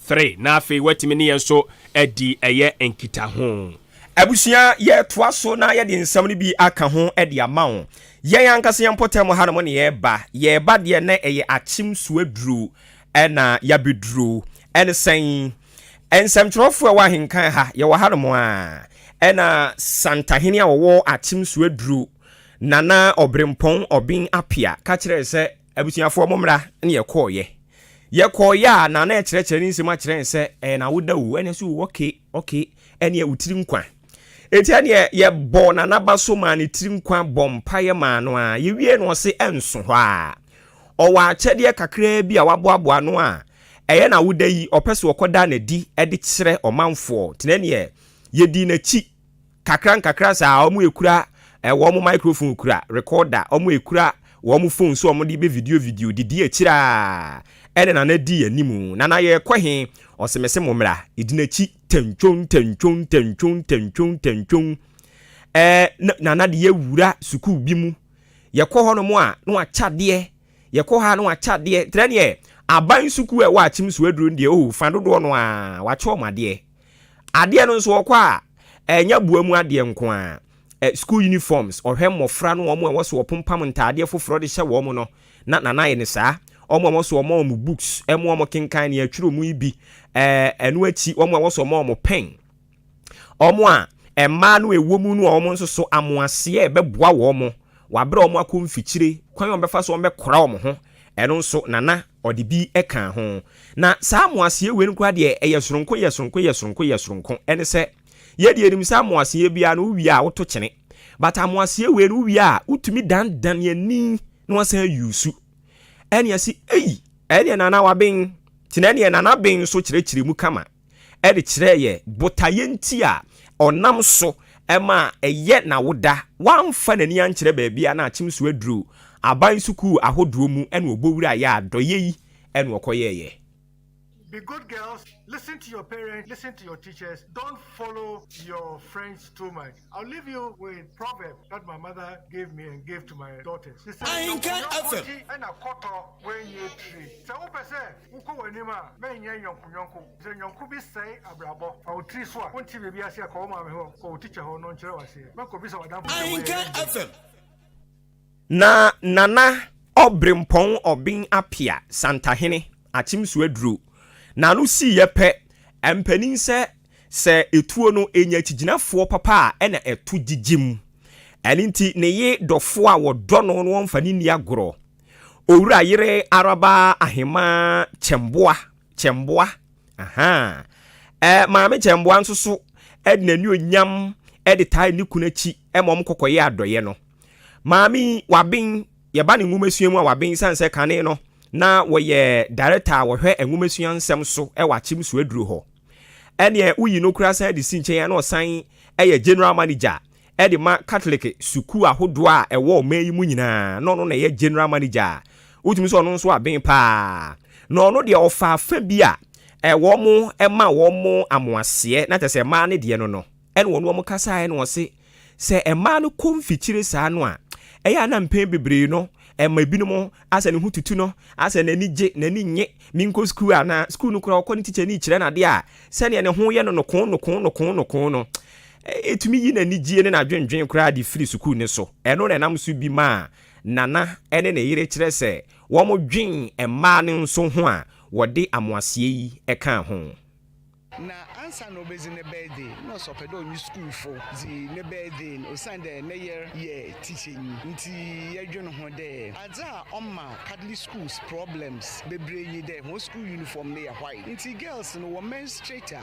three na afei watumi ne yɛn nso adi ɛyɛ nkitaho. Abusua yɛtoa so na yɛde nsɛm no bi aka ho de ama wo. Yɛn ankasa yɛn mpɔtam hanom ne yɛreba yɛreba deɛ na ɛyɛ akyem so aduru ɛna yɛabɛduru ɛne sɛn. Nsɛmtwerɛfoɔ a ɛwɔ ahenka ha, yɛwɔ ha nom ara, ɛna Santahene a ɔwɔ Akyem Suaduro, Nana Ɔberempɔn Ɔben Apia, ka kyerɛɛ sɛ, Abusuafoɔ mommra, ɛna yɛkɔeɛ. Yɛkɔeɛ a, Nana rekyerɛkyerɛ ne nsam akyerɛ yɛn sɛ, Ɛyɛ n'awoda o, ɛna so o, ɔke, ɔke, ɛneɛ wo tiri nkwa. Enti ɛneɛ yɛbɔɔ Nana ba so maa ne tiri nkwa, bɔɔ mpaeɛ maa no ara, yɛwiee no ɔse ɛnso hɔ ara. Ɔwɔ akyɛdeɛ kakraa bi a waboaboa ano a, Ɛyɛ na woda yi ɔpɛ so ɔkɔda nadi de kyerɛ ɔmanfoɔ tenɛ neɛ yɛdii nakyi kakra nkakra saa ɔmo ɛkura wɔn microphone kura recorder ɔmo ɛkura wɔn phone so ɔmo de bɛ video video didi akyire a ɛne nana di animu nana yɛkɔ he ɔse mese mo mmra ɛdi nakyi tantwon tantwon tantwon tantwon tantwon ɛɛ nana de yɛ wura sukuu bi mu yɛkɔ hɔ nom a na wakyɛ adeɛ Yɛkɔ ha na wɔakyɛ adeɛ. Kyerɛ deɛ, aban sukuu a ɛwɔ Akyem so aduru no deɛ, oh, fa dodoɔ no ara, wɔakyɛ wɔn adeɛ. Adeɛ no nso, wɔkɔ a, ɛnyɛ aboa mu adeɛ nko ara. Ɛ, sukuu uniforms, wɔhwɛ mmɔfra no, wɔn a ɛwɔ sɛ wɔpompam ntaadeɛ foforɔ de hyɛ wɔn no, na Nana ayɛ no saa. Wɔn a ɛwɔ sɛ wɔma wɔn books, ɛmo a wɔkenkan, nea ɛtwerɛ mu yi bi. Ɛ, ɛno akyi, wɔn a ɛwɔ sɛ wɔma wɔn pen. Wɔn a mmaa no a ɛwɔ mu no a wɔn nso so amoaseɛ bɛboa wɔn mo, wɔabrɛ wɔn akɔ mfikyire, kwan a wɔbɛfa so wɔbɛkora wɔn ho, ɛno nso Nana ɔde bi kaa ho. Na saa amoaseɛ wei no koraa deɛ ɛyɛ soronko yɛ soronko yɛ soronko yɛ soronko, ɛne sɛ yɛde yɛnim sɛ amoaseɛ biara no wowie a woto kyene, but amoaseɛ wei no wowie a wotumi danedane ani na wasan use, ɛne yɛse ei ɛneɛ Nana waben, nti na ɛneɛ Nana ben nso kyerɛkyerɛ mu kama. de kyerɛɛ yɛn botaeɛ nti a ɔnam so ma ɛyɛ n'awoda, wamfa n'ani ankyerɛ baabi a na akyem so aduro, aban sukuu ahodoɔ mu na ɔbɔ wura yɛ adɔeɛ yi na ɔkɔyɛeɛ. Be good girls, listen to your parents, listen to your teachers, don't follow your friends too much. I'll leave you with proverb that my mother gave me and gave to my daughters. She said, Ahinka FM. Wokɔ w'anim a, mɛnyɛ yɔnkoyɔnko. Sɛ yɔnko bi sɛe abrabɔ, fa wo tiri so a, wonte biribi ase a, kɔ wo maame hɔ, kɔ wo tikya hɔ na ɔnkyerɛ wo aseɛ. Mɛkɔbisa w'adamfo sɛ wɔyɛ yɛn deɛ. Na Nana Ɔberempɔn Ɔben Apea Santahene Akyemso Aduro na ano siiɛ pɛ, mpanin sɛ sɛ ɛtuo no ɛnya akyigyinafoɔ papa a ɛna ɛto gyigyim. Ɛno nti ne yere dɔfoɔ a wɔdɔ no na wɔmfa no nni agorɔ. Owura yere araba ahemaa kyɛmboa kyɛmboa ahaa ɛɛ maame kyɛmboa nso so ɛde n'ani onyam ɛde taa ne kunu akyi ɛma wɔn kɔkɔyɛ adɔyɛ no maame yi waben yɛba ne nwomasua mu a waben san sɛ kane no na wɔyɛ director a wɔhwɛ nwomasua nsɛm so ɛwɔ akyem so aduro hɔ ɛneɛ woyi no kura san de si nkyɛn a na ɔsan ɛyɛ general manager de ma Katolek sukuu ahodoɔ a ɛwɔ ɔman yi mu nyinaa, na ɔno na ɛyɛ General Manager a wotumi sɛ ɔno nso aben paa, na ɔno deɛ ɔfaa fa bi a wɔn ma wɔn amoaseɛ, na kyerɛ sɛ mmaa no deɛ no no, ɛna ɔne wɔn kasaeɛ na ɔse sɛ mmaa no kɔ mfikyire saa no a, ɛyɛ a na mpɛn bebree no ɛma ebinom asɛ ne ho tutu no, asɛ n'ani gye, n'ani nnye, menkɔ sukuu anaa, sukuu no koraa ɔkɔ no tikyani kyerɛ no adeɛ a, sɛdeɛ ne ho yɛ no nokoo nokoo nokoo nokoo no, Etumi yi n'anigye ne n'adwennwen koraa de firi sukuu no so. Ɛno na ɛnam so bi ma Nana ne ne yere kyerɛ sɛ wɔdwen mmaa no nso ho a wɔde amoaseɛ yi ka ho. Na ansa na obedzi ne birthday no nna ɔsɛ ɔpɛ dɛ ɔnye skuulfo dzi ne birthday no osiandɛ ne yer yɛ tikyanyi ntsi yɛdwen ho dɛ adze a ɔma Catholic schools problems beberee nye dɛ hɔn skuul uniform no yɛ white ntsi girls no wɔmenstruate a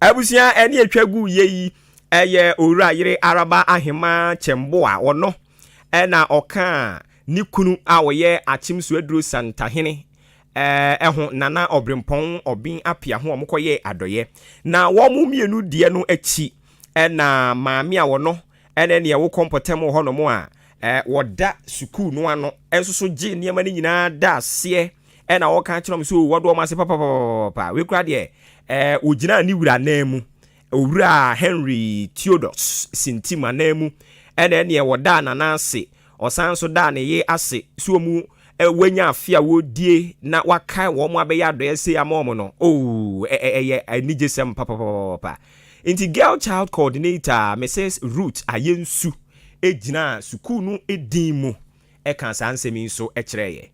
Abusua ani atwa gu yɛ yi ɛyɛ owura yere araba ahema kyɛmbo a ɔno ɛna ɔka ne kunu a ɔyɛ akyem so aduro santahene ɛho nana ɔbrempɔn ɔben apia ho ɔmo kɔyɛ adɔyɛ na wɔn mmienu deɛ no akyi ɛna maame a ɔno ɛna ɛne ɛwo kɔ mpɔtam wɔ hɔ nom a wɔda sukuu no ano ɛnso so gye nneɛma no nyinaa da aseɛ Ɛna wɔka kyerɛ wɔn sɛ, O, wɔdɔ wɔn ase papapapapaapa. Wei koraa deɛ, ɛɛ, ɔgyinaa ne wura nan mu, Owura Henry Theodus Sintim anan mu, ɛna ɛneɛ ɔdaa Nana ase, ɔsan nso daa ne yere ase sɛ wɔn ɛ, wɔanya afe a wɔredie na wɔakae wɔn ma wɔabɛyɛ adɔeɛ sei ama wɔn no. Oh, ɛ, ɛ, ɛyɛ anigyesɛm papapapapaapa. Nti Girl Child Coordinator a, Mrs. Ruth Ayensu gyinaa sukuu no din mu ka saa nsɛm yi nso kyerɛɛ yɛn.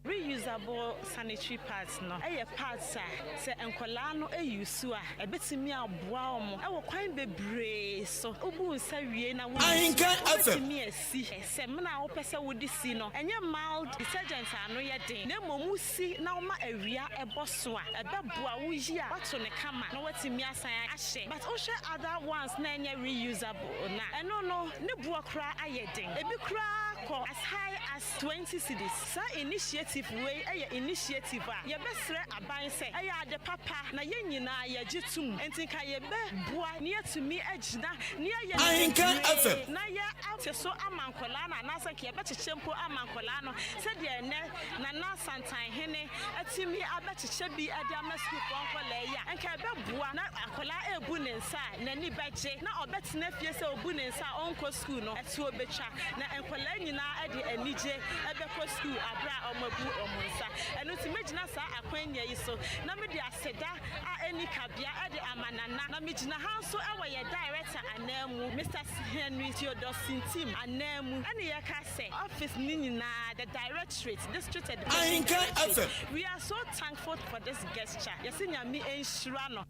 Reusable sanitary pads no yɛ pads a sɛ nkwadaa no use a, ɛbɛtumi aboa wɔn wɔ kwan bebree so. Wobu nsa wie na wo use no, wobɛtumi asi samina a wopɛ sɛ wode si no. Ɛnyɛ mild detergent a ano yɛ den, na mmom wosi na woma awia bɔ so a, ɛbɛboa. Woyi a, woato no kama na woatumi asan ahyɛ. But wohwɛ other ones na ɛnyɛ reusable no a, ɛno no, ne boɔ koraa ayɛ den. Ɛbi koraa kɔ as high as. 20 cedis. Saa initiative wei yɛ initiative a yɛbɛsrɛ aban sɛ ɛyɛ ade papa na yɛn nyinaa yɛgye to mu. Enti nka yɛbɛboa na yɛatumi agyina na yɛayɛ no bebree na yɛate so ama nkwadaa no anaasɛ nka yɛbɛkyekyɛ mpo ama nkwadaa no sɛdeɛ ɛnnɛ Nana Asantanhene atumi abɛkyekyɛ bi de ama sukuufoɔ nkwadaa yi a, nka ɛbɛboa na akwadaa rebu ne nsa a, n'ani bɛgye na ɔbɛtena fie sɛ ɔbu ne nsa a ɔrenkɔ sukuu no toɔ bɛtwa, na nkwadaa nyinaa de anigye bɛkɔ sukuu aberɛ a wɔabu wɔn nsa. Ɛno nti mɛgyina saa akwannya yi so na mede aseda a ɛnni kabea de ama Nana, na megyina ha nso wɔ yɛn Director ananmu, Mister Henry Theodore Sintim ananmu, ɛne yɛka sɛ office no nyinaa, the Directorate, District Education Directorate, we are so thankful for this gesture, yɛse Nyame nhyira no.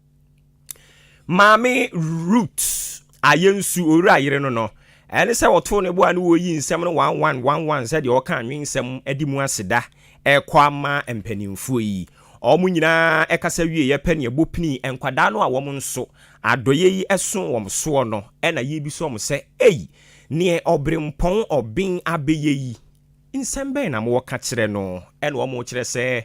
maame rut ayɛ nsu owura yere no no ɛne sɛ wɔtoo ne boa ne wɔyi nsɛm no one one one one sɛdeɛ ɔka nwensɛm adi mu aseda ɛkɔ ama mpanimfoɔ yi wɔn nyinaa ɛkasa wie yɛpɛ ne ɛbɔ pini nkwadaa no a wɔn nso adɔyɛ yi ɛso wɔn soɔ no ɛna yi bi so wɔn sɛ ei neɛ ɔbrempɔn ɔben abɛyɛ yi nsɛm bɛn na mowɔ ka kyerɛ no ɛna wɔn kyerɛ sɛ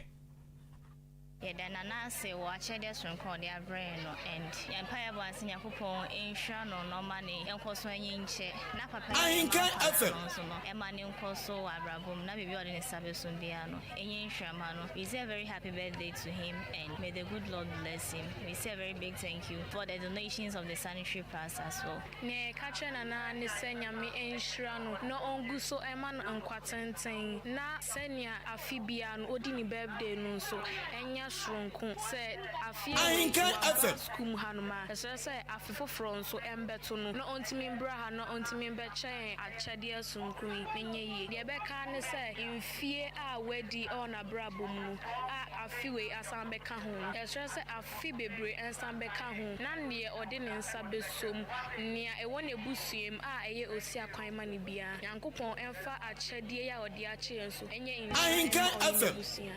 Yɛda Nana ase wɔ akyɛdeɛ soronko a ɔde abrɛ yɛn no and yɛn mpaeɛ bɔ ara ne sɛ Nyankopɔn nhyira no na ɔma ne nkɔso anyinkyɛ na papa yi a yɛn Ahenkan Papa FM. no nso no ɛma ne nkɔso wɔ abrabɔ mu na biribi a ɔde ne nsa bɛsom biara no ɛnyɛ nhyira ma no. We say a very happy birthday to him and may the good Lord bless him. We say a very big thank you for the donations of the sanitary pads as well. Nea yɛka kyerɛ no naa ne sɛ Nyame nhyira no na ɔngu so mma no nkwa tenten na sɛnea afe biara no odi ne birthday no nso ɛnyɛ soronko sɛ afe wei nti wambra sukuu mu hanom a ɛsrɛ sɛ afe foforɔ nso ɛmbɛto no na ɔntumi mbra ha na ɔntumi mbɛkyɛ yɛn akyɛdeɛ soronko yi na ɛnyɛ yie. Deɛ ɛbɛka ara ne sɛ mfie a wadi wɔ n'abrabɔ mu no a afe wei asan bɛka ho no ɛsrɛ sɛ fi bebree nsa bɛka ho, na nea ɔde ne nsa beso mu, nea ɛwɔ n'abusua mu a ɛyɛ osia kwan ma no biara, Nyankopɔn mfa akyɛdeɛ yi a ɔde akyɛ yɛn so nyɛ nhyira mma ɔne n'abusua.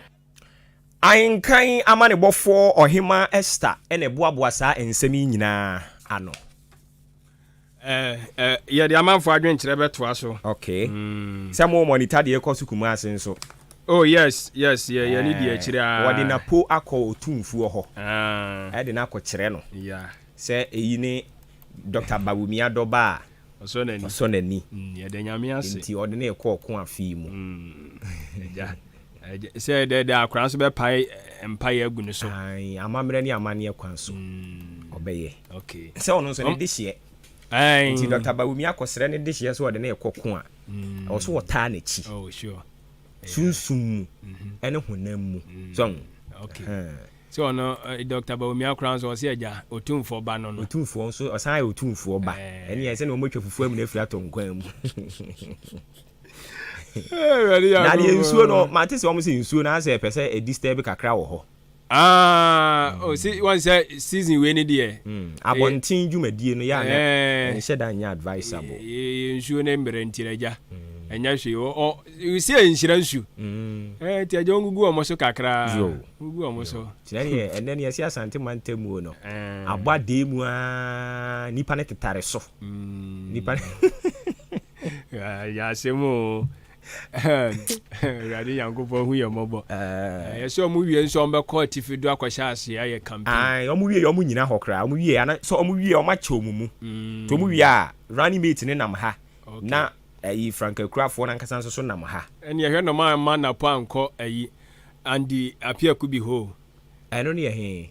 Ahenkan amanebɔfoɔ Ɔhemmaa Esther na ɛboaboa saa nsɛm yi nyinaa ano. Eh, eh, yɛde amanfo adwenkyerɛ bɛtoa so. Okay. Mm. Sɛ mo monitor deɛ kɔ so Kumasi nso. Oh yes, yes, yɛ yɛ ne deɛ akyire Eh, aa. wɔde n'apo akɔ otumfuo hɔ Ah, ɛde no akɔkyerɛ no yeah. sɛ eyi ne Dɔkta Bawumia dɔba a Ɔsɔ n'ani. ɔsɔ n'ani. Mm, yɛda Nyame ase. Enti ɔde no rekɔ ɔko afe yi mu. Mm, agya. Sɛ dɛɛdɛɛ akora nso bɛpae mpaeɛ agu ne so. Ae, amammerɛ ne amanneɛ kwan so ɔbɛyɛ. Okay. Sɛ ɔno nso ne dehyeɛ. Ae. Nti Dɔkta Bawumia akɔsrɛ ne dehyeɛ sɛ ɔde no rekɔ ko a, ɛwɔ so wɔtaa n'akyi. Oh, sure. Sunsum mu ne honam mu. So ahu? Okay. Ɛhɛn. Sɛ ɔno eh, Dɔkta Bawumia koraa nso ɔse agya Otumfoɔ ba no no. Otumfoɔ nso, ɔsan yɛ Otumfoɔ ba. Ɛneɛ sɛdeɛ wɔatwa fufuo amina afiri atɔ nkwan mu. na deɛ nsuo no mate sɛ wɔn sɛ nsuo no asɛ pɛ sɛ ɛdi stɛ bi kakra wɔ hɔ. Ah, oh, si, wɔn sɛ season wei ni deɛ. Hmm, abɔnten dwumadie no yɛ anɛ eh. nhyɛ da nyɛ advisable. nsuo no mmerɛ nti na gya hmm. ɛnyɛ hwee si nhyira nsu hmm. eh, nti agya wɔngugu wɔn so kakra gugu wɔn so. kyerɛ deɛ ɛnɛ ne ɛsi asante mantamuo no eh. abɔ adee mu a nipa no tetare so nipa no Yasem o. Awurade Nyankopɔn hu yɛn mmɔbɔ. Ɛyɛ sɛ ɔmo wie nso ɔmo bɛkɔ atifi do akɔhyɛ ase ayɛ campaign. Ae ɔmo wie yɛ ɔmo nyina hɔ koraa ɔmo wie yɛ ana sɛ ɔmo wie ɔmo akyɛ ɔmo mu nti ɔmo wie a running mate no nam ha na ɛyi frankakurafoɔ no ankasa nso so nam ha. Ɛneɛ hwɛ na ɔmo amma Napo ankɔ ɛyi Andy Apiakubi hɔ o. Ɛno ne yɛ he?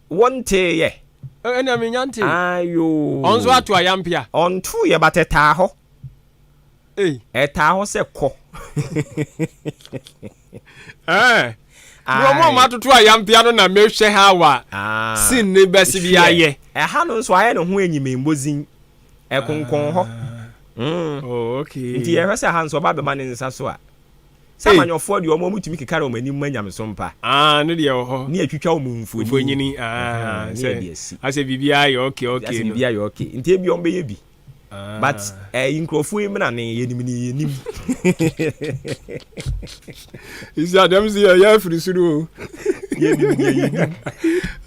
Wonteeɛ? O ɛnna mennya ntee. Aayoo. Ɔno nso ato ayampe a. Ɔntooeɛ but ɛtaa hɔ. Ei. Ɛtaa hɔ sɛ kɔ. Ɛɛ. Ae. Bro mo a moatoto ayampea no na mehwɛ how a scene no bɛse bi ayɛ. Hwɛ, ɛha no nso ayɛ ne ho enyimembodzinyi. Ɛkonkɔn hɔ. Ah. Mm. Oh okay. Nti yɛhwɛ sɛ ha nso ɔba bɛma ne nsa so a. Sɛ amanyɔfoɔ deɛ wɔn wɔtumi keka wɔn anim ma nyamesom pa. Ah, ne deɛ wɔ hɔ. Ne atwitwa wɔn mfonini. Mfonini, ah, sɛ asɛ biribiara yɛ okay okay. Asɛ biribiara yɛ okay, nti ebi wɔn bɛyɛ bi. Ah. But eh, yi nkurɔfoɔ yi mena ne yɛnim ne yɛnim. Isi adɛm si yɛ yɛ afiri soro o. Yɛnim ne yɛnim.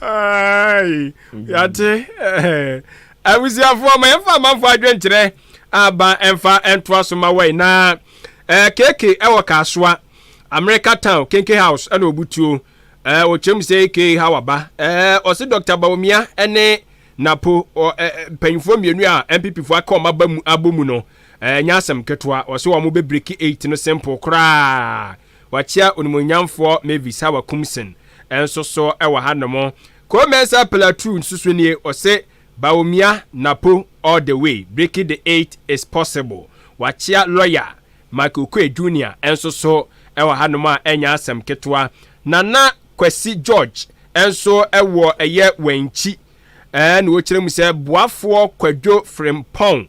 Ai, yɛate. Eh, abusuafoɔ ma yɛmfa amanfoɔ adwenkyerɛ. Aban ɛmfa ɛntoa so ma wai na ɛɛ keke ɛwɔ kaasoa America town kenke house ɛna obutuo ɛɛ ɔkyerɛ mu sɛ eke ha waba ɛɛ ɔse Dr. Bawumia ɛne Napo ɔ ɛɛ mpanyinfoɔ mmienu a NPP foɔ aka wɔn aba mu abɔ mu no ɛɛ nyɛ asɛm ketewa ɔse wɔn bɛ breki 8 no simple koraa wakyia onimuonyamfoɔ Mavis Hawa Kumsen ɛnso so ɛwɔ ha nom Koo Mensah Plateau nso so nie ɔse Bawumia Napo all the way breaking the eight is possible wakyea lɔya Mike Okoe Junior nso so wɔ hanom a ɛnyɛ asɛm ketewa Nana Kwasi George nso wɔ ɛyɛ Wankyi ɛɛ na ɔkyerɛ mu sɛ boafoɔ Kwadwo Frimpong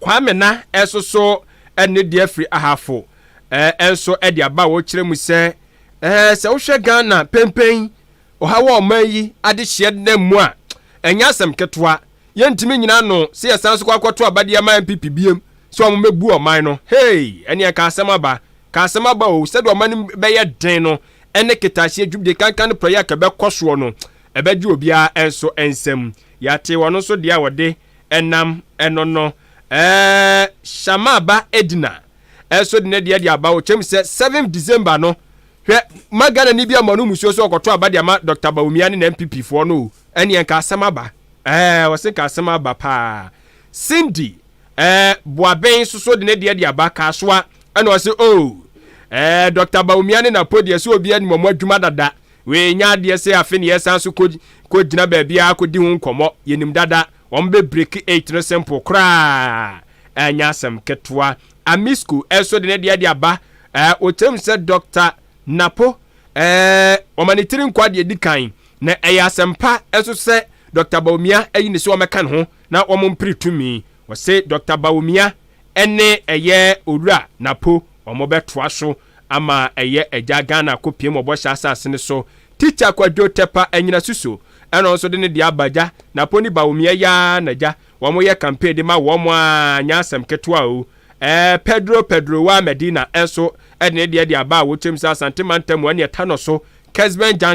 Kwame na ɛsoso ne deɛ firi Ahafo nso de aba a wɔkyerɛ mu sɛ, sɛ wohwɛ Ghana penpen ɔhaw a ɔman yi adehyeɛ denam mu a, ɛnyɛ asɛm ketewa. Yɛntumi nnyina ano sɛ yɛsan nso kɔ akɔto aba de ama NPP biom sɛ wɔmmɛbu ɔman no. Hey! Ɛnneɛ nka asɛm aba. Nka asɛm aba o! Sɛdeɛ ɔman no bɛyɛ den no ne ketahyeɛ dwumdie kanka no prɛyɛ a ɛkɛbɛkɔ soɔ no, ɛbɛgye obiara nso nsam. Yɛate wɔn nso deɛ a wɔde Ɛnam ɛno no, ɛɛ Shammah ba Edna ɛso de ne deɛ de aba ɔkyɛm sɛ 7 December no. Hwɛ, ma Ghanani bi ama no musuo sɛ ɔkɔtɔ aba de ama Dɔkta Bawumia ne NPP foɔ no o. Ɛneɛ nka asɛm aba. Ɛɛ, wɔse nka asɛm aba paa. Cindy ɛɛ Boaben soso de ne deɛ de aba Kasoa ɛna ɔse oo, ɛɛ Dɔkta Bawumia ne Napo deɛ sɛ obiara nim wɔn adwuma dada. Wɔanya adeɛ sɛ afe ne yɛsan so kɔ kɔ gyina baabi ara kɔdi ho nkɔmmɔ. Yɛnim dada. Wɔn bɛ break eight no simple koraa ɛnyɛ asɛm ketewa. Amisco ɛso de ne deɛ de aba. Ɛɛ wɔkyerɛ mu sɛ Dɔkta Napo ɛɛ wɔma ne tiri nkwa deɛ ɛdi kan. Na ɛyɛ asɛmpa nso sɛ Dɔkta Bawumia ayi ne sɛ wɔmɛka ne ho na wɔn mpere tumi. Wɔse Dɔkta Bawumia ɛne ɛyɛ Owura Napo wɔn bɛtoa so Ama ɛyɛ agya Ghana ko piem wɔ bɔhyɛ asase no so Teacher Kwadwo Tɛpa Anyina Suso ɛna ɔnso de ne deɛ aba agya Naponi Bawumia Yaa na agya wɔn yɛ campaign de ma wɔn aa nyɛ asɛm ketewa o Ɛɛ Pedro Pedro Waa Medina ɛnso ɛde ne deɛ de aba a wɔkyɛm sɛ Asante Mantam ɛne ɛtanɔ so Kesben Junction